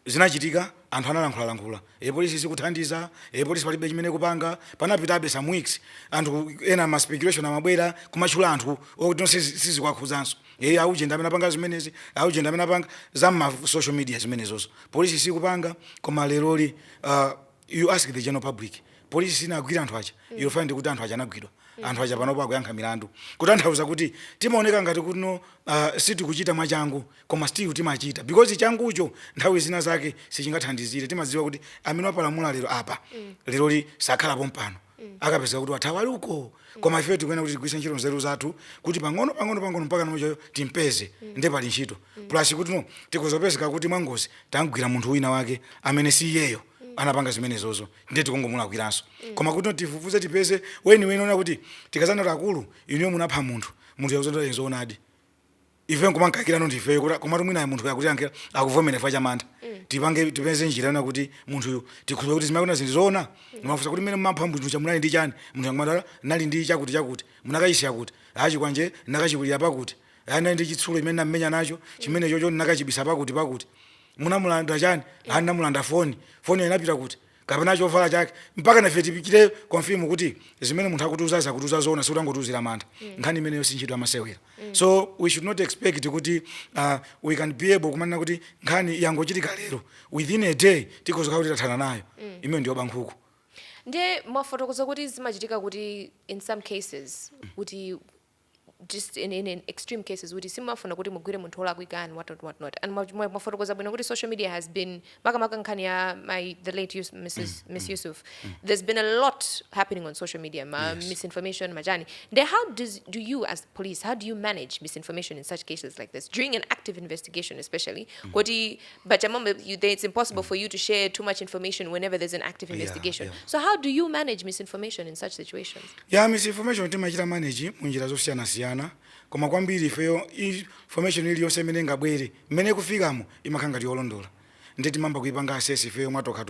zinachitika anthu analankhulalankhula e polisi sikuthandiza e polisi palibe chimene ikupanga panapitabe some weeks anthu ena ma speculation amabwera kumatchula anthu okuti nonse sizikuwakhudzanso e auje ndi amene apanga zimenezi auje ndi amene apanga za ma social media zimenezozo polisi sikupanga koma leroli uh, you ask the general public polisi sinagwira anthu aja mm. you'll find kuti anthu aja anagwidwa mm. anthu aja panopo akuyankha milandu kutanthauza kuti timaoneka ngati kuti no uh, sitikuchita mwachangu koma still timachita because changucho nthawi zina zake sichingathandizire timadziwa kuti amene wapalamula lero apa leroli sakhala pompano akapezeka kuti wathawa ali uko koma ifeyo tikuyenera kuti tigwiritse ntchito nzeru zathu kuti pang'ono pang'ono pang'ono mpaka munthuyo timpeze nde pali ntchito plus kuti no tikudzapezeka kuti mwangozi tamgwira munthu wina wake amene si iyeyo anapanga zimenezozo ndiye tikungomulakwiranso koma kuti tifufuze tipeze weniweni ona kuti tikadzanena kuti akulu inuyo munapha munthu munthu akuti ndi zoonadi ife nkumamukaikirano ndi ifeyo kuti komatu mwinayo munthuyo akutiyankha akuvomera chifukwa cha mantha tipange tipeze njira yona kuti munthuyo tikhulupirire kuti zimene akunena ndi zoona timafunsa kuti mmene mumapha munthu uja munali ndi chani munthuyo nkumati ndinali ndi chakuti chakuti munakaisiya kuti chikwanje ndinakachikwirira pakuti ndinali ndi chitsulo chimene ndinammenya nacho chimene chocho ndinakachibisa pakuti pakuti munamulanda chani ndinamulanda foni foni inapita kuti kapena chovala chake mpaka nafe tichite confirm kuti zimene munthu akutiuzazi akutiuza zoona sikuti angotiuzira mantha nkhani imeneyo si ntchito yamasewera so we should not expect kuti uh, we can be able kumanena kuti nkhani yangochitika lero within a day tikhoza kukhala kuti tathana nayo imeneyo ndiyoba nkhuku ndiye
mwafotokoza kuti zimachitika kuti in some cases kuti just in, in, in extreme cases kuti simafuna kuti mugwire munthu olakwika and whatnot whatnot and mwafotokoza bwino kuti social media has been makamaka nkhani ya my the late Yus, mrs mm, mm, miss mm, yusuf mm. there's been a lot happening on social media ma yes. misinformation majani then how does do you as police how do you manage misinformation in such cases like this during an active investigation especially mm. kuti But I'm on- you, they- it's impossible for you to share too much information whenever there's an active Yeah, investigation. yeah. So how do you manage misinformation in such situations? ya misinformation
timachita manage munjira zosiyanasiyana koma kwambiri ifeyo information iliyonse imene ingabwere mmene ikufikiramo imakhala ngati yolondola ndiye timayamba kuipanga assess ifeyo mwatokha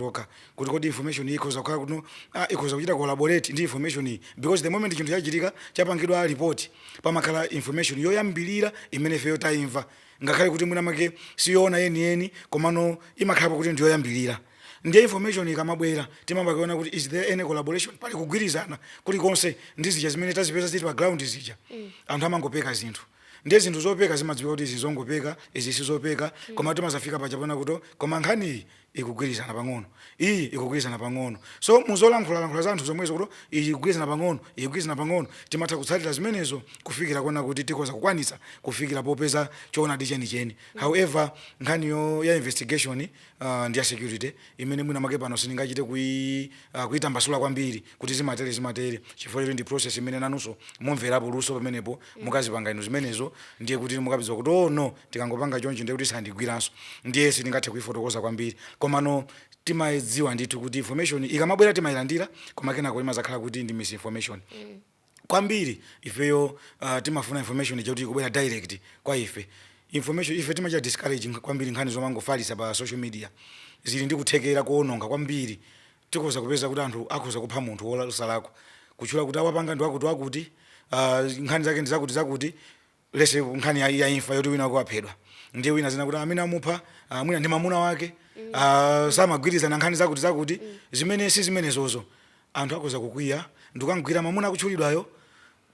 kuti kodi information iyi ikhoza kukhala kuno ah, ikhoza kuchita collaborate ndi information iyi because the moment chinthu chachitika chapangidwa report pamakhala information yoyambirira imene ifeyo tayimva ngakhale kuti mwina mwake siyoona yeniyeni komano imakhalapo kuti ndiyoyambirira ndiye information ikamabwera timayamba kuona kuti is there any collaboration pali kugwirizana kulikonse ndi zija zimene tazipeza zili pa ground zija mm. anthu amangopeka zinthu ndiye zinthu zopeka zimadziwika kuti izi zongopeka izi sizopeka mm. koma timazafika poti poona kuti koma nkhaniyi ikugwirizana pang'ono, iyi ikugwirizana pang'ono. So, mu zolankhula-lankhula zanthu zomwezo kuti, iyi ikugwirizana pang'ono, iyi ikugwirizana pang'ono, timatha kutsatira zimenezo kufikira kuona kuti tikhoza kukwanitsa kufikira popeza choonadi cheni-cheni. However, nkhaniyo, ya investigation uh, ndi ya security, imene mwina mwake pano sindingachite kui, uh, kuitambasula kwambiri kuti zimatere zimatere, chifukwa choti ndi process imene nanunso mumverapo luso pamenepo mukazipanga inu zimenezo ndiye kuti mukapeza kuti oh no tikangopanga choncho ndiye kuti sandigwiranso ndiye sindingathe kuifotokoza kwambiri komano timadziwa ndithu kuti information ikamabwera timayilandira koma kenako imazakhala kuti ndi misinformation kwambiri ifeyo uh, timafuna information ija kuti izibwera direct kwa ife information ife timachita discourage nkh- kwambiri nkhani zomangofalisa pa social media zili ndi kuthekera kuononga kwambiri Tikhoza kupeza kuti anthu akhoza kupha munthu wosalakwa, kutchula kuti awapanga ndi wakutiwakuti, uh, nkhani zake ndi zakutizakuti, lese nkhani ya, ya imfa yoti wina wake waphedwa, ndiye wina zina kuti amene amupha uh, mwina ndi mamuna wake uh, samagwirizana nkhani zakutizakuti zimene si zimenezozo. Anthu akhoza kukwiya ndikukamgwira mamuna akutchulidwayo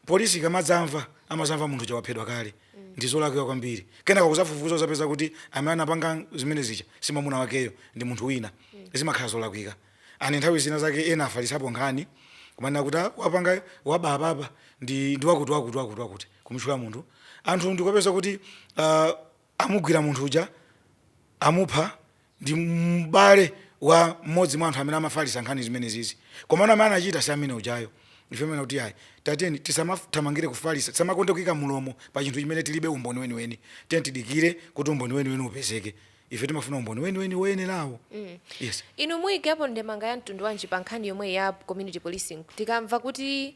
Polisi ikamadzamva amazamva munthu uja waphedwa kale ndizolakwika kwambiri kenako kuzafufuza kuzapeza kuti amene anapanga zimene zija simamuna wakeyo ndi munthu wina zimakhala zolakwika and nthawi zina zake ena afalitsapo nkhani kumanena kuti ah wapangayo waba apapa ndi ndiwakuti wakuti wakuti wakuti kumutchula munthu anthu ndikupeza kuti ah, amugwira munthu uja, amupha, ndi m'bale wa mmodzi mwa anthu amene amafalitsa nkhani zimenezizi. Komano amene anachita si amene ujayo. Ife timanena kuti ayi, tiyeni tisamathamangire kufalitsa, tisamakonde kuika mlomo pa chinthu chimene tilibe umboni weniweni. Tiyeni tidikire kuti umboni weniweni upezeke. Ife timafuna umboni weniweni woyenerawo. Yes. Inu muikepo
ndemanga ya mtundu wanji pa nkhani yomweyi ya community policing? Tikamva kuti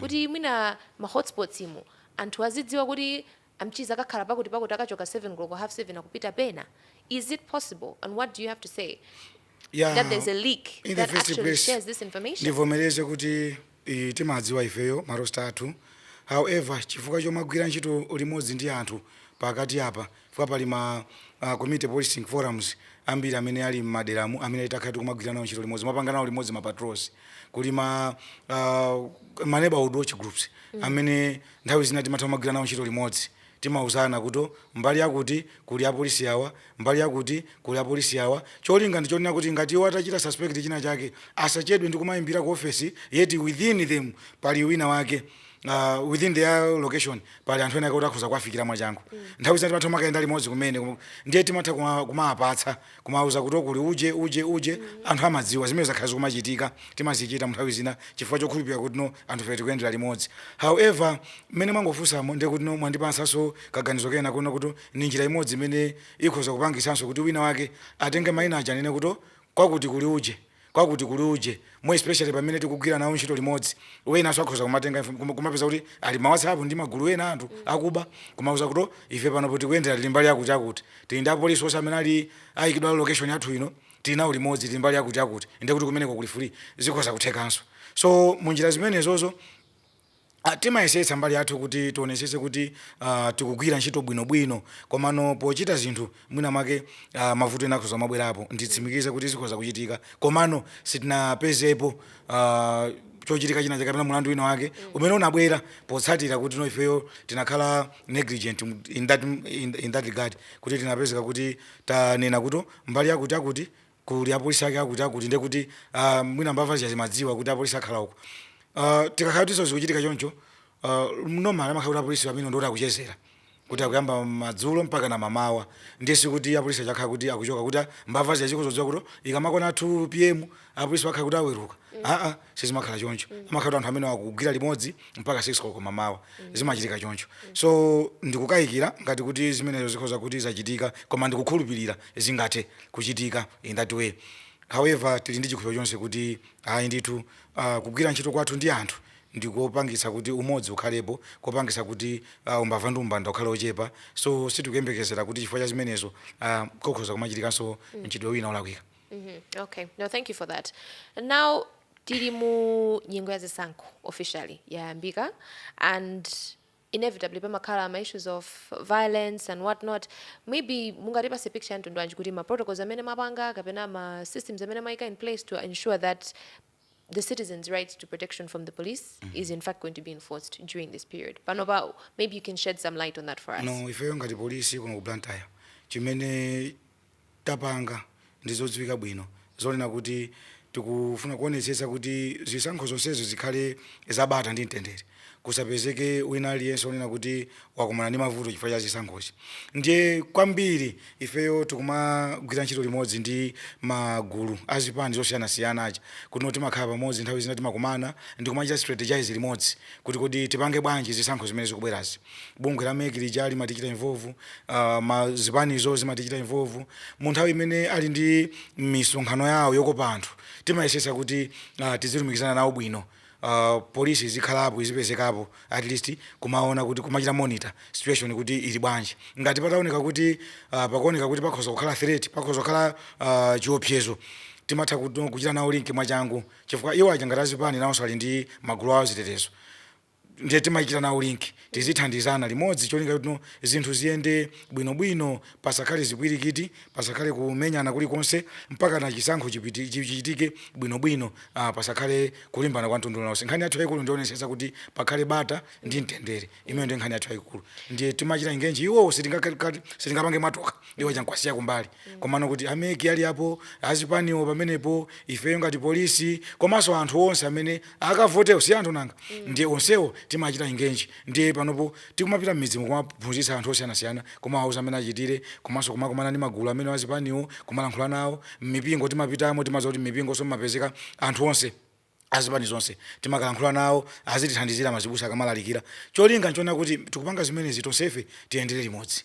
kuti mwina ma hotspots umo anthu azidziwa kuti a Mchiza akakhala pakuti pakuti akachoka 7 koloko half 7 akupita pena is it possible and what do you have to say yeah, that
there's a
leak in that the actually place, shares
this
information ndivomereze
kuti eh, timadziwa ifeyo marosta athu however chifukwa chomagwira ntchito limodzi ndi anthu pakati apa Chifukwa pali ma a community policing forums ambiri amene ali m'maderamu amene takhala tikumagwira nawo ntchito limodzi, kumapanga nawo limodzi ma patrols. Kuli ma a ma neighborhood watch groups amene nthawi zina timatha kumagwira nawo ntchito limodzi. Timauzana kuti mbali yakuti kuli apolisi awa, mbali yakuti kuli apolisi awa. Cholinga ndi chonena kuti ngati iwo atachita suspect china chake asachedwe ndi kumaimbira ku ofesi yet within them pali wina wake. uh, within their location pali anthu ena kuti akhoza kuwafikira mwachangu mm. nthawi zina timatha kumakayenda limodzi kumene ndiye timatha kumawapatsa kumawuza kuti kuli uje uje uje mm. anthu amadziwa zimene zakhala zikumachitika timazichita nthawi zina chifukwa chokhulupirira kuti no anthu fe tikuyendera limodzi however mmene mwangofunsamo ndiye kuti no mwandipatsanso kaganizo kena kuona kuti ni njira imodzi imene ikhoza kupangitsanso kuti wina wake atenge mayina aja anene kuti kwakuti kuli uje kwakuti kuli uje more especially pamene tikugwira nawo ntchito limodzi wenanso akhoza kumatenga info- kuma- kumapeza kuti ali ma whatsapp ndi magulu ena anthu akuba kumauza kuti "Oh, ife panopo tikuyendera tili mbali yakutiyakuti tili ndi apolisi onse amene ali ayikidwa location yathu ino tili nawo limodzi tili mbali yakutiyakuti ndiye kuti kumeneko kuli free zikhoza kuthekanso so munjira zimenezozo Timayesetsa mbali yathu kuti tionetsetse kuti tikugwira ntchito bwinobwino komano pochita zinthu mwinamwake mavuto ena akhoza kumabwerapo. Nditsimikize kuti zikhoza kuchitika komano sitinapezepo chochitika china chake kapena mulandu wina wake umene unabwera potsatira kuti no ifeyo tinakhala negligent in that in that regard kuti tinapezeka kuti tanena kuti mbali yakuti yakuti kuli apolisi ake akuti akuti ndiye kuti uh, mwina mbava zija zimadziwa kuti apolisi akhala uko uh, tikakhala kuti zikuchitika choncho uh, normal amakhala kuti apolisi amene ndi oti akuchezera kuti akuyamba madzulo mpaka na mamawa ndiye sikuti apolisi aja akhala kuti akuchoka kuti mbava zija zikudzadziwa kuti ikamakwana 2 pm apolisi akhala kuti aweruka mm. aa ah, ah, sizimakhala choncho mm. amakhala kuti anthu amene akugwira limodzi mpaka 6 koloko mamawa mm. zimachitika choncho mm. so ndikukayikira ngati kuti zimenezo zikhoza kuti zachitika koma ndikukhulupirira zingathe kuchitika in that way however tili ndi chikhulupiriro chonse kuti ayi ndithu uh, kugwira ntchito kwathu ndi anthu ndikopangitsa kuti umodzi ukhalepo kopangitsa kuti uh, umbava ndi umbanda ukhale ochepa so sitikuyembekezera kuti chifukwa cha zimenezo uh, kokhoza kumachitikanso mchitidwe wina olakwika Mhm, Okay,
no, thank you for that. Now, tili mu nyengo ya zisankho officially yayambika and inevitably pamakhala ma issues of violence and whatnot, maybe mungatipase picture ya mtundu wanji kuti ma protocols amene mwapanga kapena ma systems amene mwayika in place to ensure that the citizens right to protection from the police is in fact going to be enforced during this period panopa, maybe you can shed some light on that for us. No, ifeyo ngati polisi
kuno ku Blantyre chimene tapanga ndi zodziwika bwino zonena kuti tikufuna kuonetsetsa kuti zisankho zonsezo zikhale za bata ndi mtendere, kusapezeke wina aliyense wonena kuti wakumana ndi mavuto chifukwa cha zisankhozi. Ndiye kwambiri ifeyo tikumagwira ntchito limodzi ndi magulu a zipani zosiyanasiyana aja kuti timakhala pamodzi nthawi zina timakumana ndi kumachita strategize limodzi kuti kodi tipange bwanji zisankho zimene zikubwerazi. bungwe la mec lija limatichita involve uh, mazipanizo zimatichita involve mu nthawi imene ali ndi misonkhano yawo yokopa anthu timayesetsa kuti uh, tizilumikizana nawo bwino uh, polisi izikhalapo izipezekapo at least kumaona kuti kumachita monitor situation kuti ili bwanji ngati pataoneka kuti uh, pakuoneka kuti pakhoza kukhala threat pakhoza kukhala uh, chiopsezo timatha kuchita nawo link mwachangu chifukwa iwo aja ngati azipani nawonso ali ndi magulu awo azitetezo ndiye timachita nawo link tizithandizana limodzi cholinga choti no zinthu ziyende bwinobwino pasakhale zipwirikiti pasakhale kumenyana kulikonse mpaka na chisankho chipiti- chi- chichitike bwinobwino ah, pasakhale kulimbana kwa mtundu uliwonse nkhani yathu yayikulu ndionetsetsa kuti pakhale bata ndi mtendere imeneyo ndiye nkhani yathu yayikulu ndiye timachita engage iwowo sitingakhale- sitingapange mwatokha iwo aja n'kuwasiya kumbali komano kuti a mec ali apo azipaniwo pamenepo ifeyo ngati polisi komanso anthu onse amene akavotewo si anthu nanga ndiye onsewo timachita engage ndiye panopo tikumapita m'midzimo kumaphunzitsa anthu osiyanasiyana kumawauza mmene achitire komanso kumakumana ndi magulu amene azipaniwo kumalankhula nawo m'mipingo timapitamo timadziwa kuti m'mipingonso mumapezeka anthu onse azipani zonse timakalankhula nawo azitithandizira mazibusa akamalalikira cholinga n'chonena kuti tikupanga zimenezi tonsefe tiyendere limodzi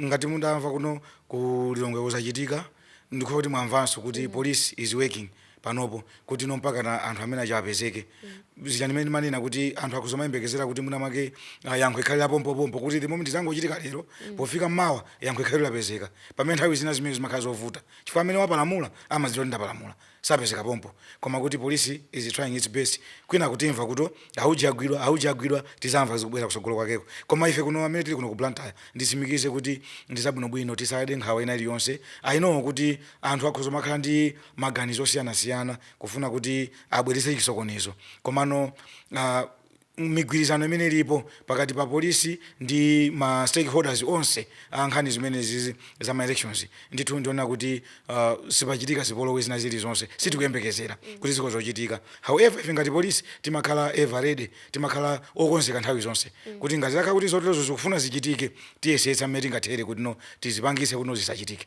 Ngati mudamva kuno ku Lilongwe kuzochitika ndikhulupira kuti mwamvanso kuti police is working panopo kuti no mpakana anthu amene achita apezeke. Zija ndimene ndimanena kuti anthu akhoza kumayembekezera kuti mwina mwake ah, yankho likhale la pompopompo kuti the moment zangochitika lero pofika mawa yankho likhale kuti lapezeka. Pamene nthawi zina zimenezi zimakhala zovuta chifukwa amene wapalamula amadziwa kuti ndapalamula. sapezeka pompo koma kuti police is trying its best kwinaku timva kuti auje agwidwa auje agwidwa tizamva zikubwera kusogolo kwakeko koma ife kuno amene tili kuno ku Blantyre ndisimikize kuti ndizabwinobwino tisade nkhawa ina iliyonse i know kuti anthu akhoza kumakhala ndi maganizo osiyanasiyana kufuna kuti abweretse chisokonezo komano ah, migwirizano imene ilipo pakati pa police ndi ma stakeholders onse a nkhani zimenezizi za ma elections ndithu ndiona kuti uh, sipachitika zipolowe zina zilizonse sitikuyembekezera kuti zikhoza kuchitika however ife ngati polisi timakhala ever ready timakhala okonzeka nthawi zonse kuti ngati zakhala kuti zoterozo zikufuna zichitike tiyesetsa mmene tingathere kuti no tizipangitse kuti no zisachitike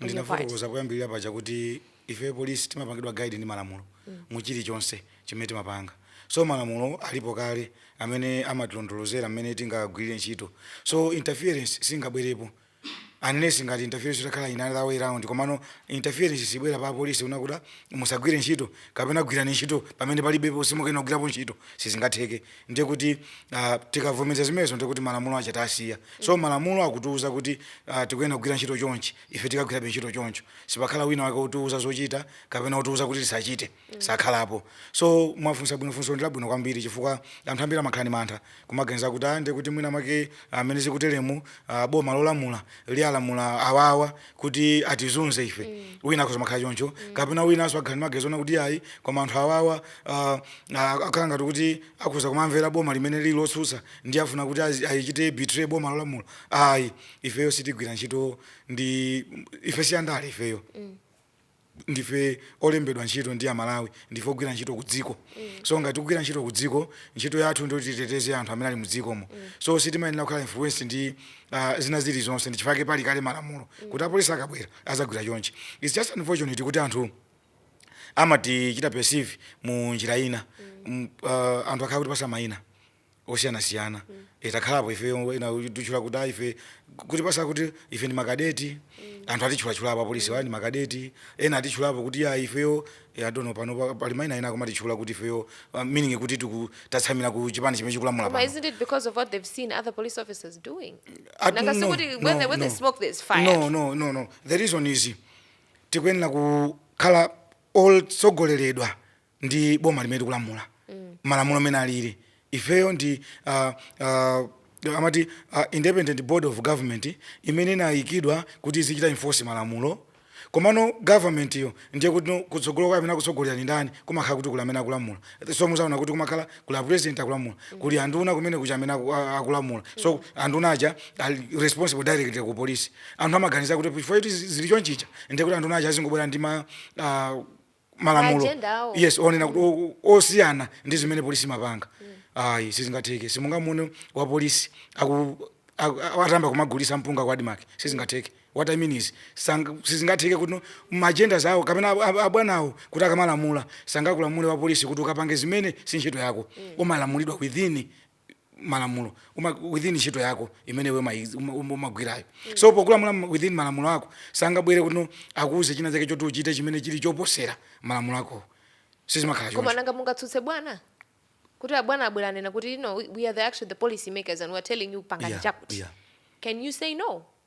in your part? ndinafotokoza poyambirira paja
kuti ife polisi timapangidwa guide ndi malamulo mu chilichonse chimene timapanga so malamulo alipo kale amene amatilondolozera mmene tingagwirire ntchito so interference singabwerepo unless ngati interference itakhala in another way round komano interference sibwera pa polisi wina kuti musagwire ntchito kapena gwirani ntchito pamene palibepo simukuyenera kugwirapo ntchito sizingatheke ndiye kuti ah, tikavomeza zimenezo ndiye kuti malamulo aja tasiya so malamulo akutiuza kuti ah, tikuyenera kugwira ntchito chonchi ife tikagwirabe ntchito choncho sipakhala wina wake otiuza zochita kapena otiuza kuti tisachite sakhalapo so mwafunsa bwino funso ndi labwino kwambiri chifukwa anthu ambiri amakhala ndi mantha kumaganiza kuti ah, ndiye kuti mwina mwake amene zikuteremu ah, boma lolamula liwalamula awawa kuti atizunze ife mm. wina akhoza makhala choncho mm. kapena winanso akhala ndi maganizo onena kuti ayi koma anthu awawa uh, akhala ngati kuti akhoza kumamvera boma limene lili lotsutsa ndiye afuna kuti ayichite betray boma lolamula ayi ifeyo sitigwira ntchito ndi ife siyandale ifeyo mm. ndife olembedwa ntchito ndi Amalawi ndife ogwira ntchito ku dziko so ngati tikugwira ntchito ku dziko ntchito yathu ndiyoti titeteze anthu amene ali mu dzikomo so sitimayenera kukhala influence ndi ah, zina zilizonse ndi chifukwa chake pali kale malamulo kuti apolisi akabwera azagwira chonchi its just unfortunate kuti anthu amatichita perceive mu njira ina M- ah, anthu akhala akutipatsa mayina osiyanasiyana Eh, takhalapo ife ena atitchula kuti ah, ife akutipatsa kuti ife ndi makadeti anthu atitchulachulapo apolisiwa ndi makadeti ena atitchulapo kuti ya ifeyo eh, I don't know pano pa- pali maina ena akumatitchula kuti ifeyo ah, meaning kuti tiku- tatsamira ku chipani chimene chikulamula pano But isn't it because of
what they've seen other police officers doing? Ah, Nanga no, sikuti
no, when they- when they no. smoke, there's
fire. no no no no the reason
is tikuyenera kukhala otsogoleredwa ndi boma limene likulamula malamulo amene alili ifeyo ndi ah, ah, amati ah, independent board of government imene inayikidwa kuti izichita enforce malamulo komano government yo ndiye kuti no- kutsogolo kwa amene akutsogolera ndi ndani kumakhala kuti kuli amene akulamula so muzaona kuti kumakhala kuli a president akulamula kuli anduna kumene kuja amene aku- a- akulamula so anduna aja ali responsible directly ku police anthu amaganiza kuti chifukwa kuti zili chonchicha ndiye kuti anduna aja azingobwera ndi ma ah, malamulo Maagenda awo. yes onena kuti o- o- osiyana ndi zimene polisi imapanga ayi sizingatheke simungamuone wa polisi aku aku- a- atamba kumagulisa mpunga kwa admarc sizingatheke what i mean is sanga- sizingatheke kuti no- maagenda zawo kapena ab- ab- abwanawo kuti akamalamula sangakulamule wa polisi kuti ukapange zimene si ntchito yako umalamulidwa within malamulo uma, within ntchito yako imene iwe umaiz- uma- uma- umagwirayo so pokulamula m- within malamulo ako sangabwere kuti akuuze china chake choti uchite chimene chili choposera malamulo akowo sizimakhala choncho koma nanga
mungatsutse bwana kuti abwana abwera anena kuti no we- we are the actually the policy makers and we are telling you pangani Yeah, chakuti yeah. can you say no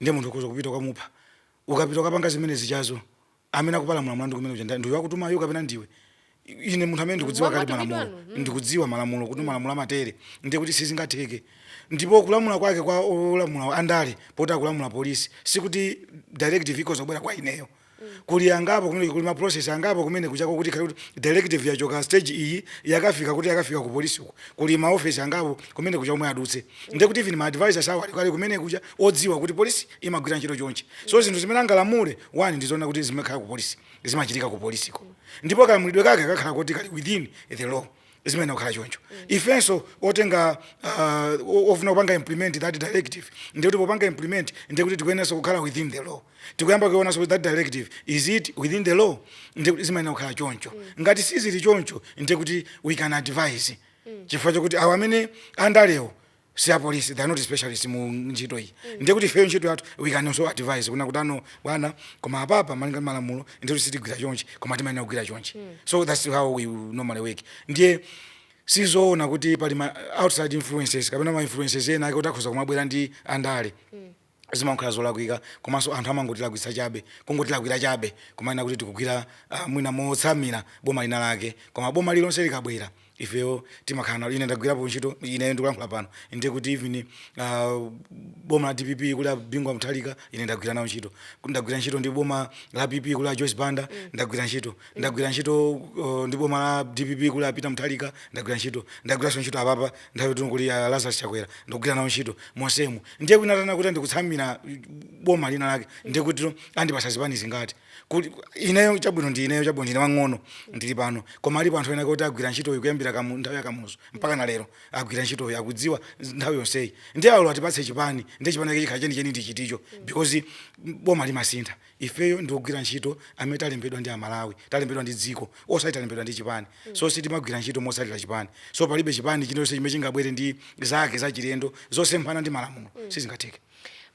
Ndiye munthu ukhoza kupita kukamupha. Ukapita kukapanga zimene zijazo, amene akupalamula mlandu kumene kuja ndani? Ndi uyo wakutumayo kapena ndiwe? I- Ine munthu amene ndikudziwa kale malamulo. Mm. ndikudziwa malamulo kuti malamulo amatere, ndiye kuti sizingatheke. Ndipo kulamula kwake kwa olamula andale poti akulamula polisi, sikuti directive ikhoza kubwera kwa ineyo. kuli angapo kumene kuli ma process angapo kumene kujako kuti ikhale kuti directive yachoka stage iyi yakafika kuti yakafika ku police uko kuli ma office angapo kumene kuja omwe adutse ndiye kuti even ma advisors awo ali kumene kuja odziwa kuti police imagwira ntchito chonchi so zinthu zimene angalamule one ndizoona kuti zimakhala ku police zimachitika ku police ko ndipo kalamulidwe kake kakhala kuti kali within the law zimayenera kukhala choncho ifenso otenga uh, o- ofuna kupanga implement that directive ndiye kuti popanga implement ndiye kuti tikuyeneranso kukhala within the law tikuyamba kuonanso that directive is it within the law ndiye kuti zimayenera kukhala choncho ngati sizili choncho ndiye kuti we can advise chifukwa chokuti awo amene andalewo si apolisi they are not specialist mu ntchito iyi ndiye kuti ifeyo ntchito yathu we can also advise kunena kuti ah no bwana koma apapa malinga ndi malamulo ndiye kuti sitigwira chonchi koma timayenera kugwira chonchi so that's how we normally work ndiye sizoona kuti pali ma outside influences kapena ma influences ena ake kuti akhoza kumabwera ndi andale zimakhala zolakwika komanso anthu amangotilakwitsa chabe kungotilakwira chabe kumanena kuti tikugwira uh, mwina motsamira boma lina lake koma boma lilonse likabwera ifeyo timakhala nalo ine ndagwirapo ntchito ineyo ndikulankhula pano ndiye kuti even uh, boma la dpp kuli a bingu wa mutharika ine ndagwira nawo ntchito ndagwira ntchito ndi boma la pp kuli a joyce banda ndagwira ntchito ndagwira ntchito uh, ndi boma la dpp kuli a peter mutharika ndagwira ntchito ndagwiranso ntchito apapa nthawi timuli ya Lazarus Chakwera ndagwira nawo ntchito monsemo ndiye kunena kuti ndikutsamira boma lina lake ndiye kuti andipatsa zipani zingati kuti ineyo chabwino ndine wang'ono ndili pano koma alipo anthu ena oti agwira ntchitoyi kuyambira kamu nthawi ya Kamuzu mpaka na lero agwira ntchitoyi akudziwa nthawi yonseyi ndiye alo atipatse chipani ndiye chipani chake chikhala chenicheni ndi chiticho because boma limasintha Ifeyo ndi ogwira ntchito amene talembedwa ndi Amalawi, talembedwa ndi dziko osati talembedwa ndi chipani so sitimagwira ntchito motsatira chipani so palibe chipani chinachilichonse chimene chingabwere ndi zake zachilendo
zosemphana
ndi
malamulo
sizingatheke.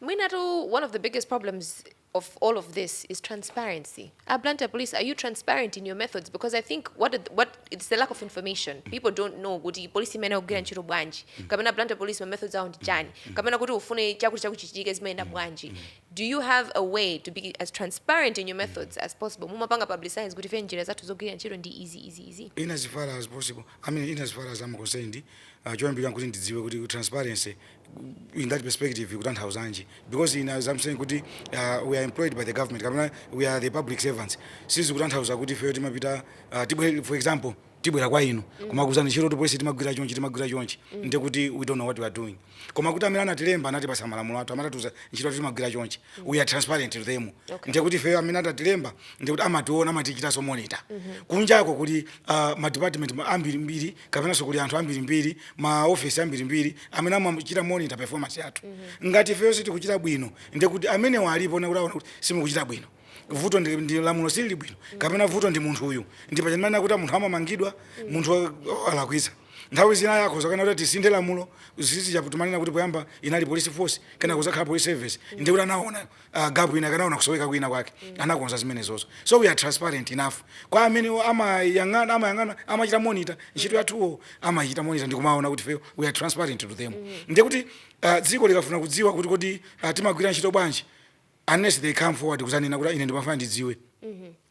Mwinatu one of the
biggest
problems of all of this is transparency. A Blantyre police are you transparent in your methods because I think what what it's the lack of information. People don't know kuti police imeneyi akugwira ntchito bwanji. Kapena Blantyre police ma methods awo ndi chani. Kapena kuti ufune chakuti chakuti chichitike zimayenda bwanji. Do you have a way to be as transparent in your methods as possible? Mumapanga publicize kuti ife njira zathu zogwirira ntchito ndi izi izi izi. In as far as
possible, I mean in as far as I'm concerned, uh, choyambirira nkuti ndidziwe kuti transparency uh, in that perspective ikutanthauzanji because in as I'm saying kuti uh, we are employed by the government kapena we are the public servants sizikutanthauza kuti feyo timapita uh, tibwe for example tibwera kwa inu kumakuuzani ntchito kuti polisi timagwira chonchi timagwira chonchi ndiye kuti we don't know what we are doing koma kuti amene anatilemba anatipatsa malamulo athu amatiuza ntchito yathu timagwira chonchi we are transparent to them ndiye kuti ifeyo amene anatilemba ndiye kuti amationa amatichitanso monitor kunjako kuli ah, ma department ma- ambirimbiri kapenanso kuli anthu ambirimbiri ma office ambirimbiri amene amachita monitor performance yathu ngati ifeyo sitikuchita bwino ndiye kuti amenewo alipo ndiye kuti aona kuti simukuchita bwino vuto ndi, ndi lamulo silili bwino kapena vuto ndi munthu uyu ndi paja ndimanena kuti munthu amamangidwa munthu wa- wa- alakwitsa nthawi zina akhoza kunena kuti tisinthe lamulo n'chifukwa chake timanena kuti poyamba inali police force kenako kuzakhala police service ndiye kuti anaona uh, gap ina anaona kusoweka kwina kwake anakonza zimenezozo so we are transparent enough kwa amene wo amayang'ana amayang'ana amachita monitor ntchito yathuwo amachita monitor ndi kumaona kuti ifeyo we are transparent to them ndiye kuti uh, dziko likafuna kudziwa kuti kodi uh, timagwira ntchito bwanji unless they come forward kuzanena kuti ine ndimafuna ndidziwe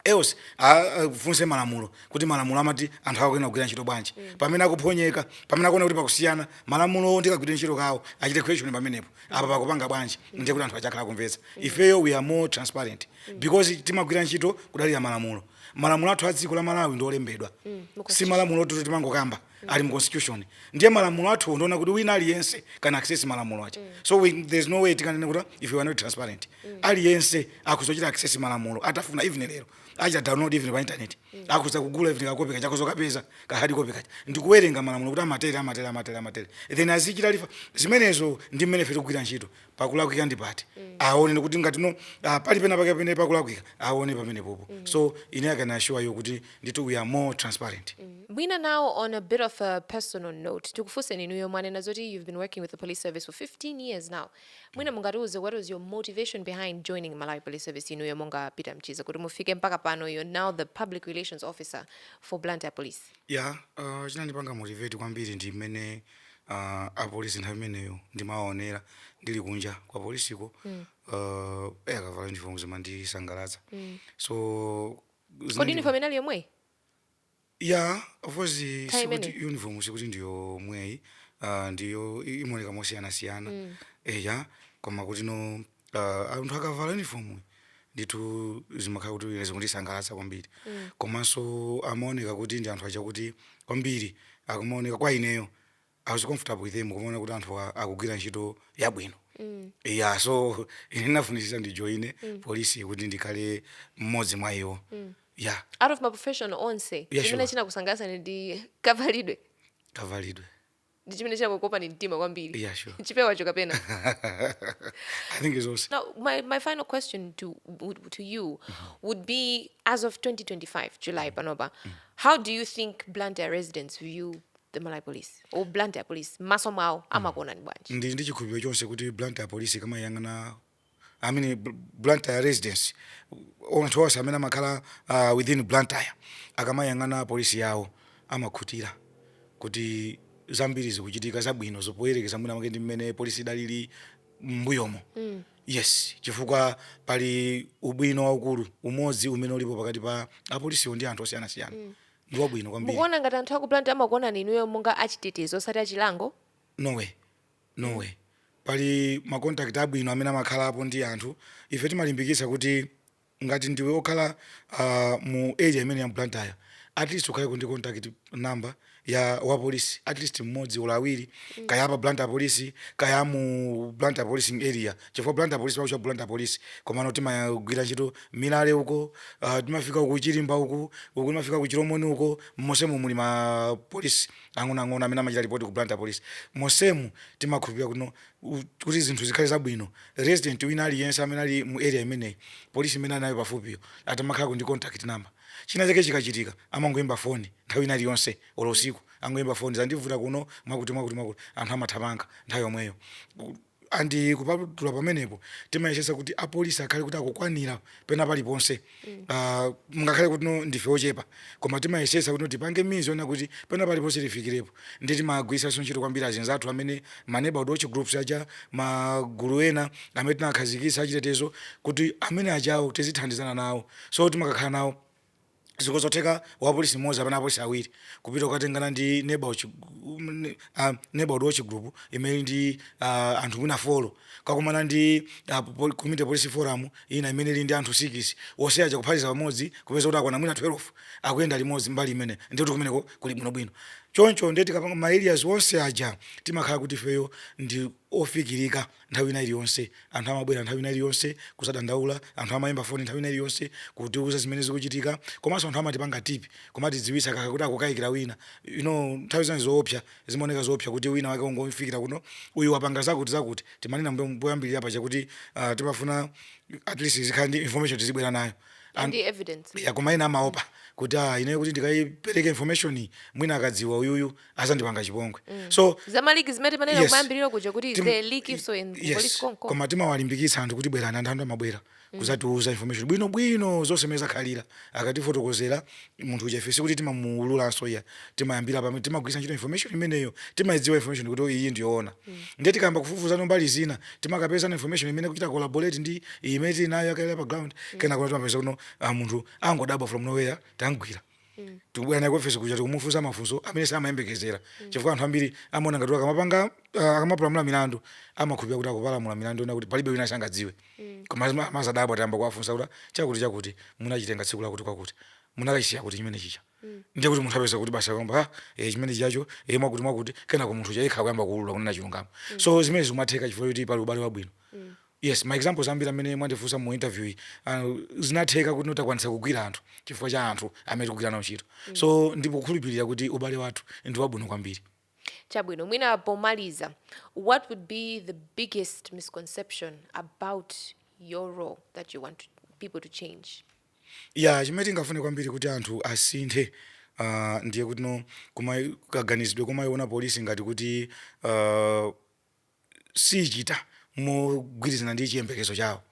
else afunse malamulo kuti malamulo amati anthu awo akuyenera kugwira ntchito bwanji pamene akuphonyeka pamene akuona kuti pakusiyana malamulowo ndi kagwire ntchito kawo achite question pamenepo apa pakupanga bwanji ndiye kuti anthu atha kukhala akumvetsa ifeyo we are more transparent because timagwira ntchito kudalira malamulo malamulo athu a dziko la Malawi ndi olembedwa si malamulo oti timangokamba ali mu constitution ndiye malamulo athu ndi onena kuti wina aliyense ali ndi access malamulo aja mm. so we, there's no way tikanene kuti ife we are not transparent mm. aliyense akhoza kuchita access malamulo atafuna even lero achita download even pa internet mm. akhoza kugula even kakope kaja akhoza kupeza ka hard copy kaja ndikuwerenga malamulo kuti amatere amatere amatere amatere then azichita refer zimenezo ndi mmene ife tikugwira ntchito pakulakwika ndi pati aone kuti ngati no ah, pali pena pake pene pakulakwika aone pamenepopo so ine I can assure you kuti ndithu we are more transparent mwina now
on a bit of a personal note tikufunseni inuyo mwanena zoti you've been working with the police service for 15 years now mwina mungatiuze what was your motivation behind joining malawi police service inuyo monga Peter Mchiza kuti mufike mpaka pano you're now the public relations officer for blantyre police ya uh,
chinandipanga motivate kwambiri ndi mmene uh, apolisi nthawi imeneyo ndimaonera ndili kunja kwa polisiko mm. uh, eh, akavala uniform zimandisangalatsa mm. so kodi uniform
inali yomweyi
ya of course sikuti uniform sikuti ndi yomweyi uh, ndiyo imoneka mosiyanasiyana mm. eya eh, koma kuti no uh, anthu akavala uniform ndithu zimakhala kuti ine zikundisangalatsa kwambiri mm. komanso amaoneka kuti ndi anthu aja kuti kwambiri akamaoneka kwa ineyo I was comfortable with them kumaona kuti anthu a- akugwira ntchito yabwino mm. yeah so ine ndinafunitsitsa ndijoine mm. polisi kuti ndikhale mmodzi mwa iwo mm. yeah out of maprofession
onse Yeah, chimene sure. chinakusangalatsa ndi kavalidwe kavalidwe ndi chimene chinakukopani mtima kwambiri yeah, sure. chipewacho
kapena i think it's awesome. now my, my final question
to, to you mm -hmm. would be as of 2025 july mm-hmm. panopa mm -hmm. how do you think blantyre residents view the malawi police or blantyre police m'maso mwawo mm-hmm. amakuonani bwanji ndi ndi chikhulupiriro chonse kuti
blantyre police ikamayang'ana I mean Bl- Blantyre residents anthu onse amene amakhala uh, within Blantyre akamayang'ana polisi yawo amakhutira kuti zambiri zikuchitika zabwino poyerekeza mwina mwake ndi mmene polisi idalili m'mbuyomo mm. yes chifukwa pali ubwino waukulu umodzi umene ulipo pakati pa apolisiwo ndi anthu osiyanasiyana mm. ndi wabwino kwambiri mukuona ngati anthu aku Blantyre
amakuonani inuyo monga achitetezo osati achilango no way
No way. Pali ma contact abwino amene amakhalapo ndi anthu. Ife timalimbikitsa kuti ngati ndiwe okhala mu area imeneyi ya mu Blantyre at least ukhaleko ndi contact number ya wa police at least mmodzi olo awiri kaya apa Blantyre police kaya amu Blantyre policing area chifukwa Blantyre police timakutchula kuti Blantyre police komano timagwira ntchito Milale uko ah, timafika ku Chirimba uku uku timafika ku Chilomoni uko monsemo muli ma police ang'onoang'ono amene amachita report ku Blantyre police monsemu timakhulupirira kuti no kuti zinthu zikhale zabwino resident wina aliyense amene ali mu area imeneyi police imene ali nayo pafupiyo atamakhalako ndi contact number china chake chikachitika amangoyimba foni nthawi ina iliyonse olo usiku angoyimba foni zandivuta kuno mwakuti mwakuti mwakuti anthu amathamanga nthawi yomweyo and kupatula pamenepo timayesesa kuti apolisi akhale kuti akukwanira pena paliponse Ah, ngakhale kuti no ndife ochepa koma timayesesa kuti no tipange means zonena kuti pena paliponse tifikirepo ndi timagwiritsanso ntchito kwambiri azinzathu amene ma neighborhood watch groups aja magulu ena amene tinakhazikitsa achitetezo kuti amene ajawo tizithandizana nawo so timakakhala nawo Zikhozotheka wapolisi mmodzi kapena apolisi awiri kupita kukatengana ndi neighborhood chi, uh, neighborhood watch group imene ili ndi uh, anthu mwina folo kakumana ndi uh, community policing forum ina imene ili ndi anthu sikisi onse aja kuphatiza pamodzi kupeza kuti akwana mwina 12 akuyenda limodzi mbali imene ndiye kuti kumeneko kuli bwinobwino choncho ndiye tikapanga ma areas onse aja timakhala kuti ifeyo ndi ofikirika nthawi ina iliyonse. Anthu amabwera nthawi ina iliyonse kuzadandaula, anthu amayimba foni nthawi ina iliyonse kutiuza zimene zikuchitika, komanso anthu amatipanga tip, kumatidziwitsa kaya kuti akukayikira wina, you know nthawi zina ndizoopsa, zimaoneka zoopsa kuti wina wake wangofikira kuno, uyu wapanga zakuti zakuti, timanena m'mbuyomu poyambirira paja kuti aah timafuna at least tizikhala ndi information tizibwera nayo and the evidence.
yeah koma ena amaopa
kuti aah ineyo kuti ndikayipereke information iyi mwina akadziwa uyuyu azandipanga chipongwe mm. so za ma leak zimene timanena
yes, kumayambiriro kuja kuti tim, they leak info in yes, police choncho koma timawalimbikitsa
anthu kuti bwerani anthu anthu amabwera mm. kuzatiuza information bwino bwino zonse mmene zakhalira akatifotokozera munthu uja ife sikuti timamuululanso ayi timayambira pamene timagwiritsa ntchito information imeneyo timayidziwa information kuti oh, iyi ndiyoona mm. ndiye tikayamba kufufuzano mbali zina timakapezano information imene kuchita collaborate ndi imene tinayo ya kale pa ground mm. kenako no timapeza kuti no ah, munthu wangodabwa from nowhere tamugwira mm. tikubwera naye ku ofesi kuja tikumufunsa mafunso amene samayembekezera mm. chifukwa anthu ambiri amaona ngati akamapanga uh, akamapalamula milandu amakhulupirira kuti akupalamula milandu onena kuti palibe wina angadziwe mm. koma ama- amazadabwa tayamba kuwafunsa kuti chakuti chakuti munachitenga tsiku lakuti kwakuti munakachisiya kuti chimene chija ndiye kuti munthu apeza kuti basi akamba ah, eh, chimene chijacho eh, mwakuti mwakuti kenako munthu uja yekha kuyamba kuulula kunena chilungamo so zimenezi zikumatheka chifukwa kuti pali ubale wabwino Yes, ma examples ambiri amene mwandifunsa mu interview yi uh, zinatheka kuti no takwanisa kugwira anthu chifukwa cha anthu amene tikugwira nawo ntchito mm. so ndikukhulupirira kuti ubale wathu ndi wabwino kwambiri chabwino mwina
pomaliza what would be the biggest misconception about your role that you want to, people to change ya yeah,
chimene tingafune kwambiri kuti anthu asinthe uh, ndiye kuti no kuma kaganizidwe kumayiona polisi ngati kuti uh, sichita mogwirizana ndi chiyembekezo chawo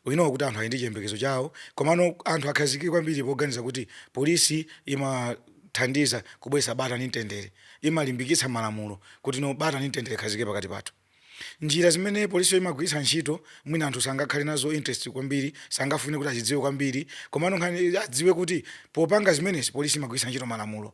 we know kuti anthu ali ndi chiyembekezo chawo komano anthu akhazikike kwambiri poganiza kuti polisi imathandiza kubweretsa bata ndi mtendere imalimbikitsa malamulo kuti no bata ndi mtendere zikhazikike pakati pathu njira zimene polisiyo imagwiritsa ntchito mwina anthu sangakhale nazo interest kwambiri sangafune kuti azidziwe kwambiri komano nkhani adziwe kuti popanga zimenezi polisi imagwiritsa ntchito malamulo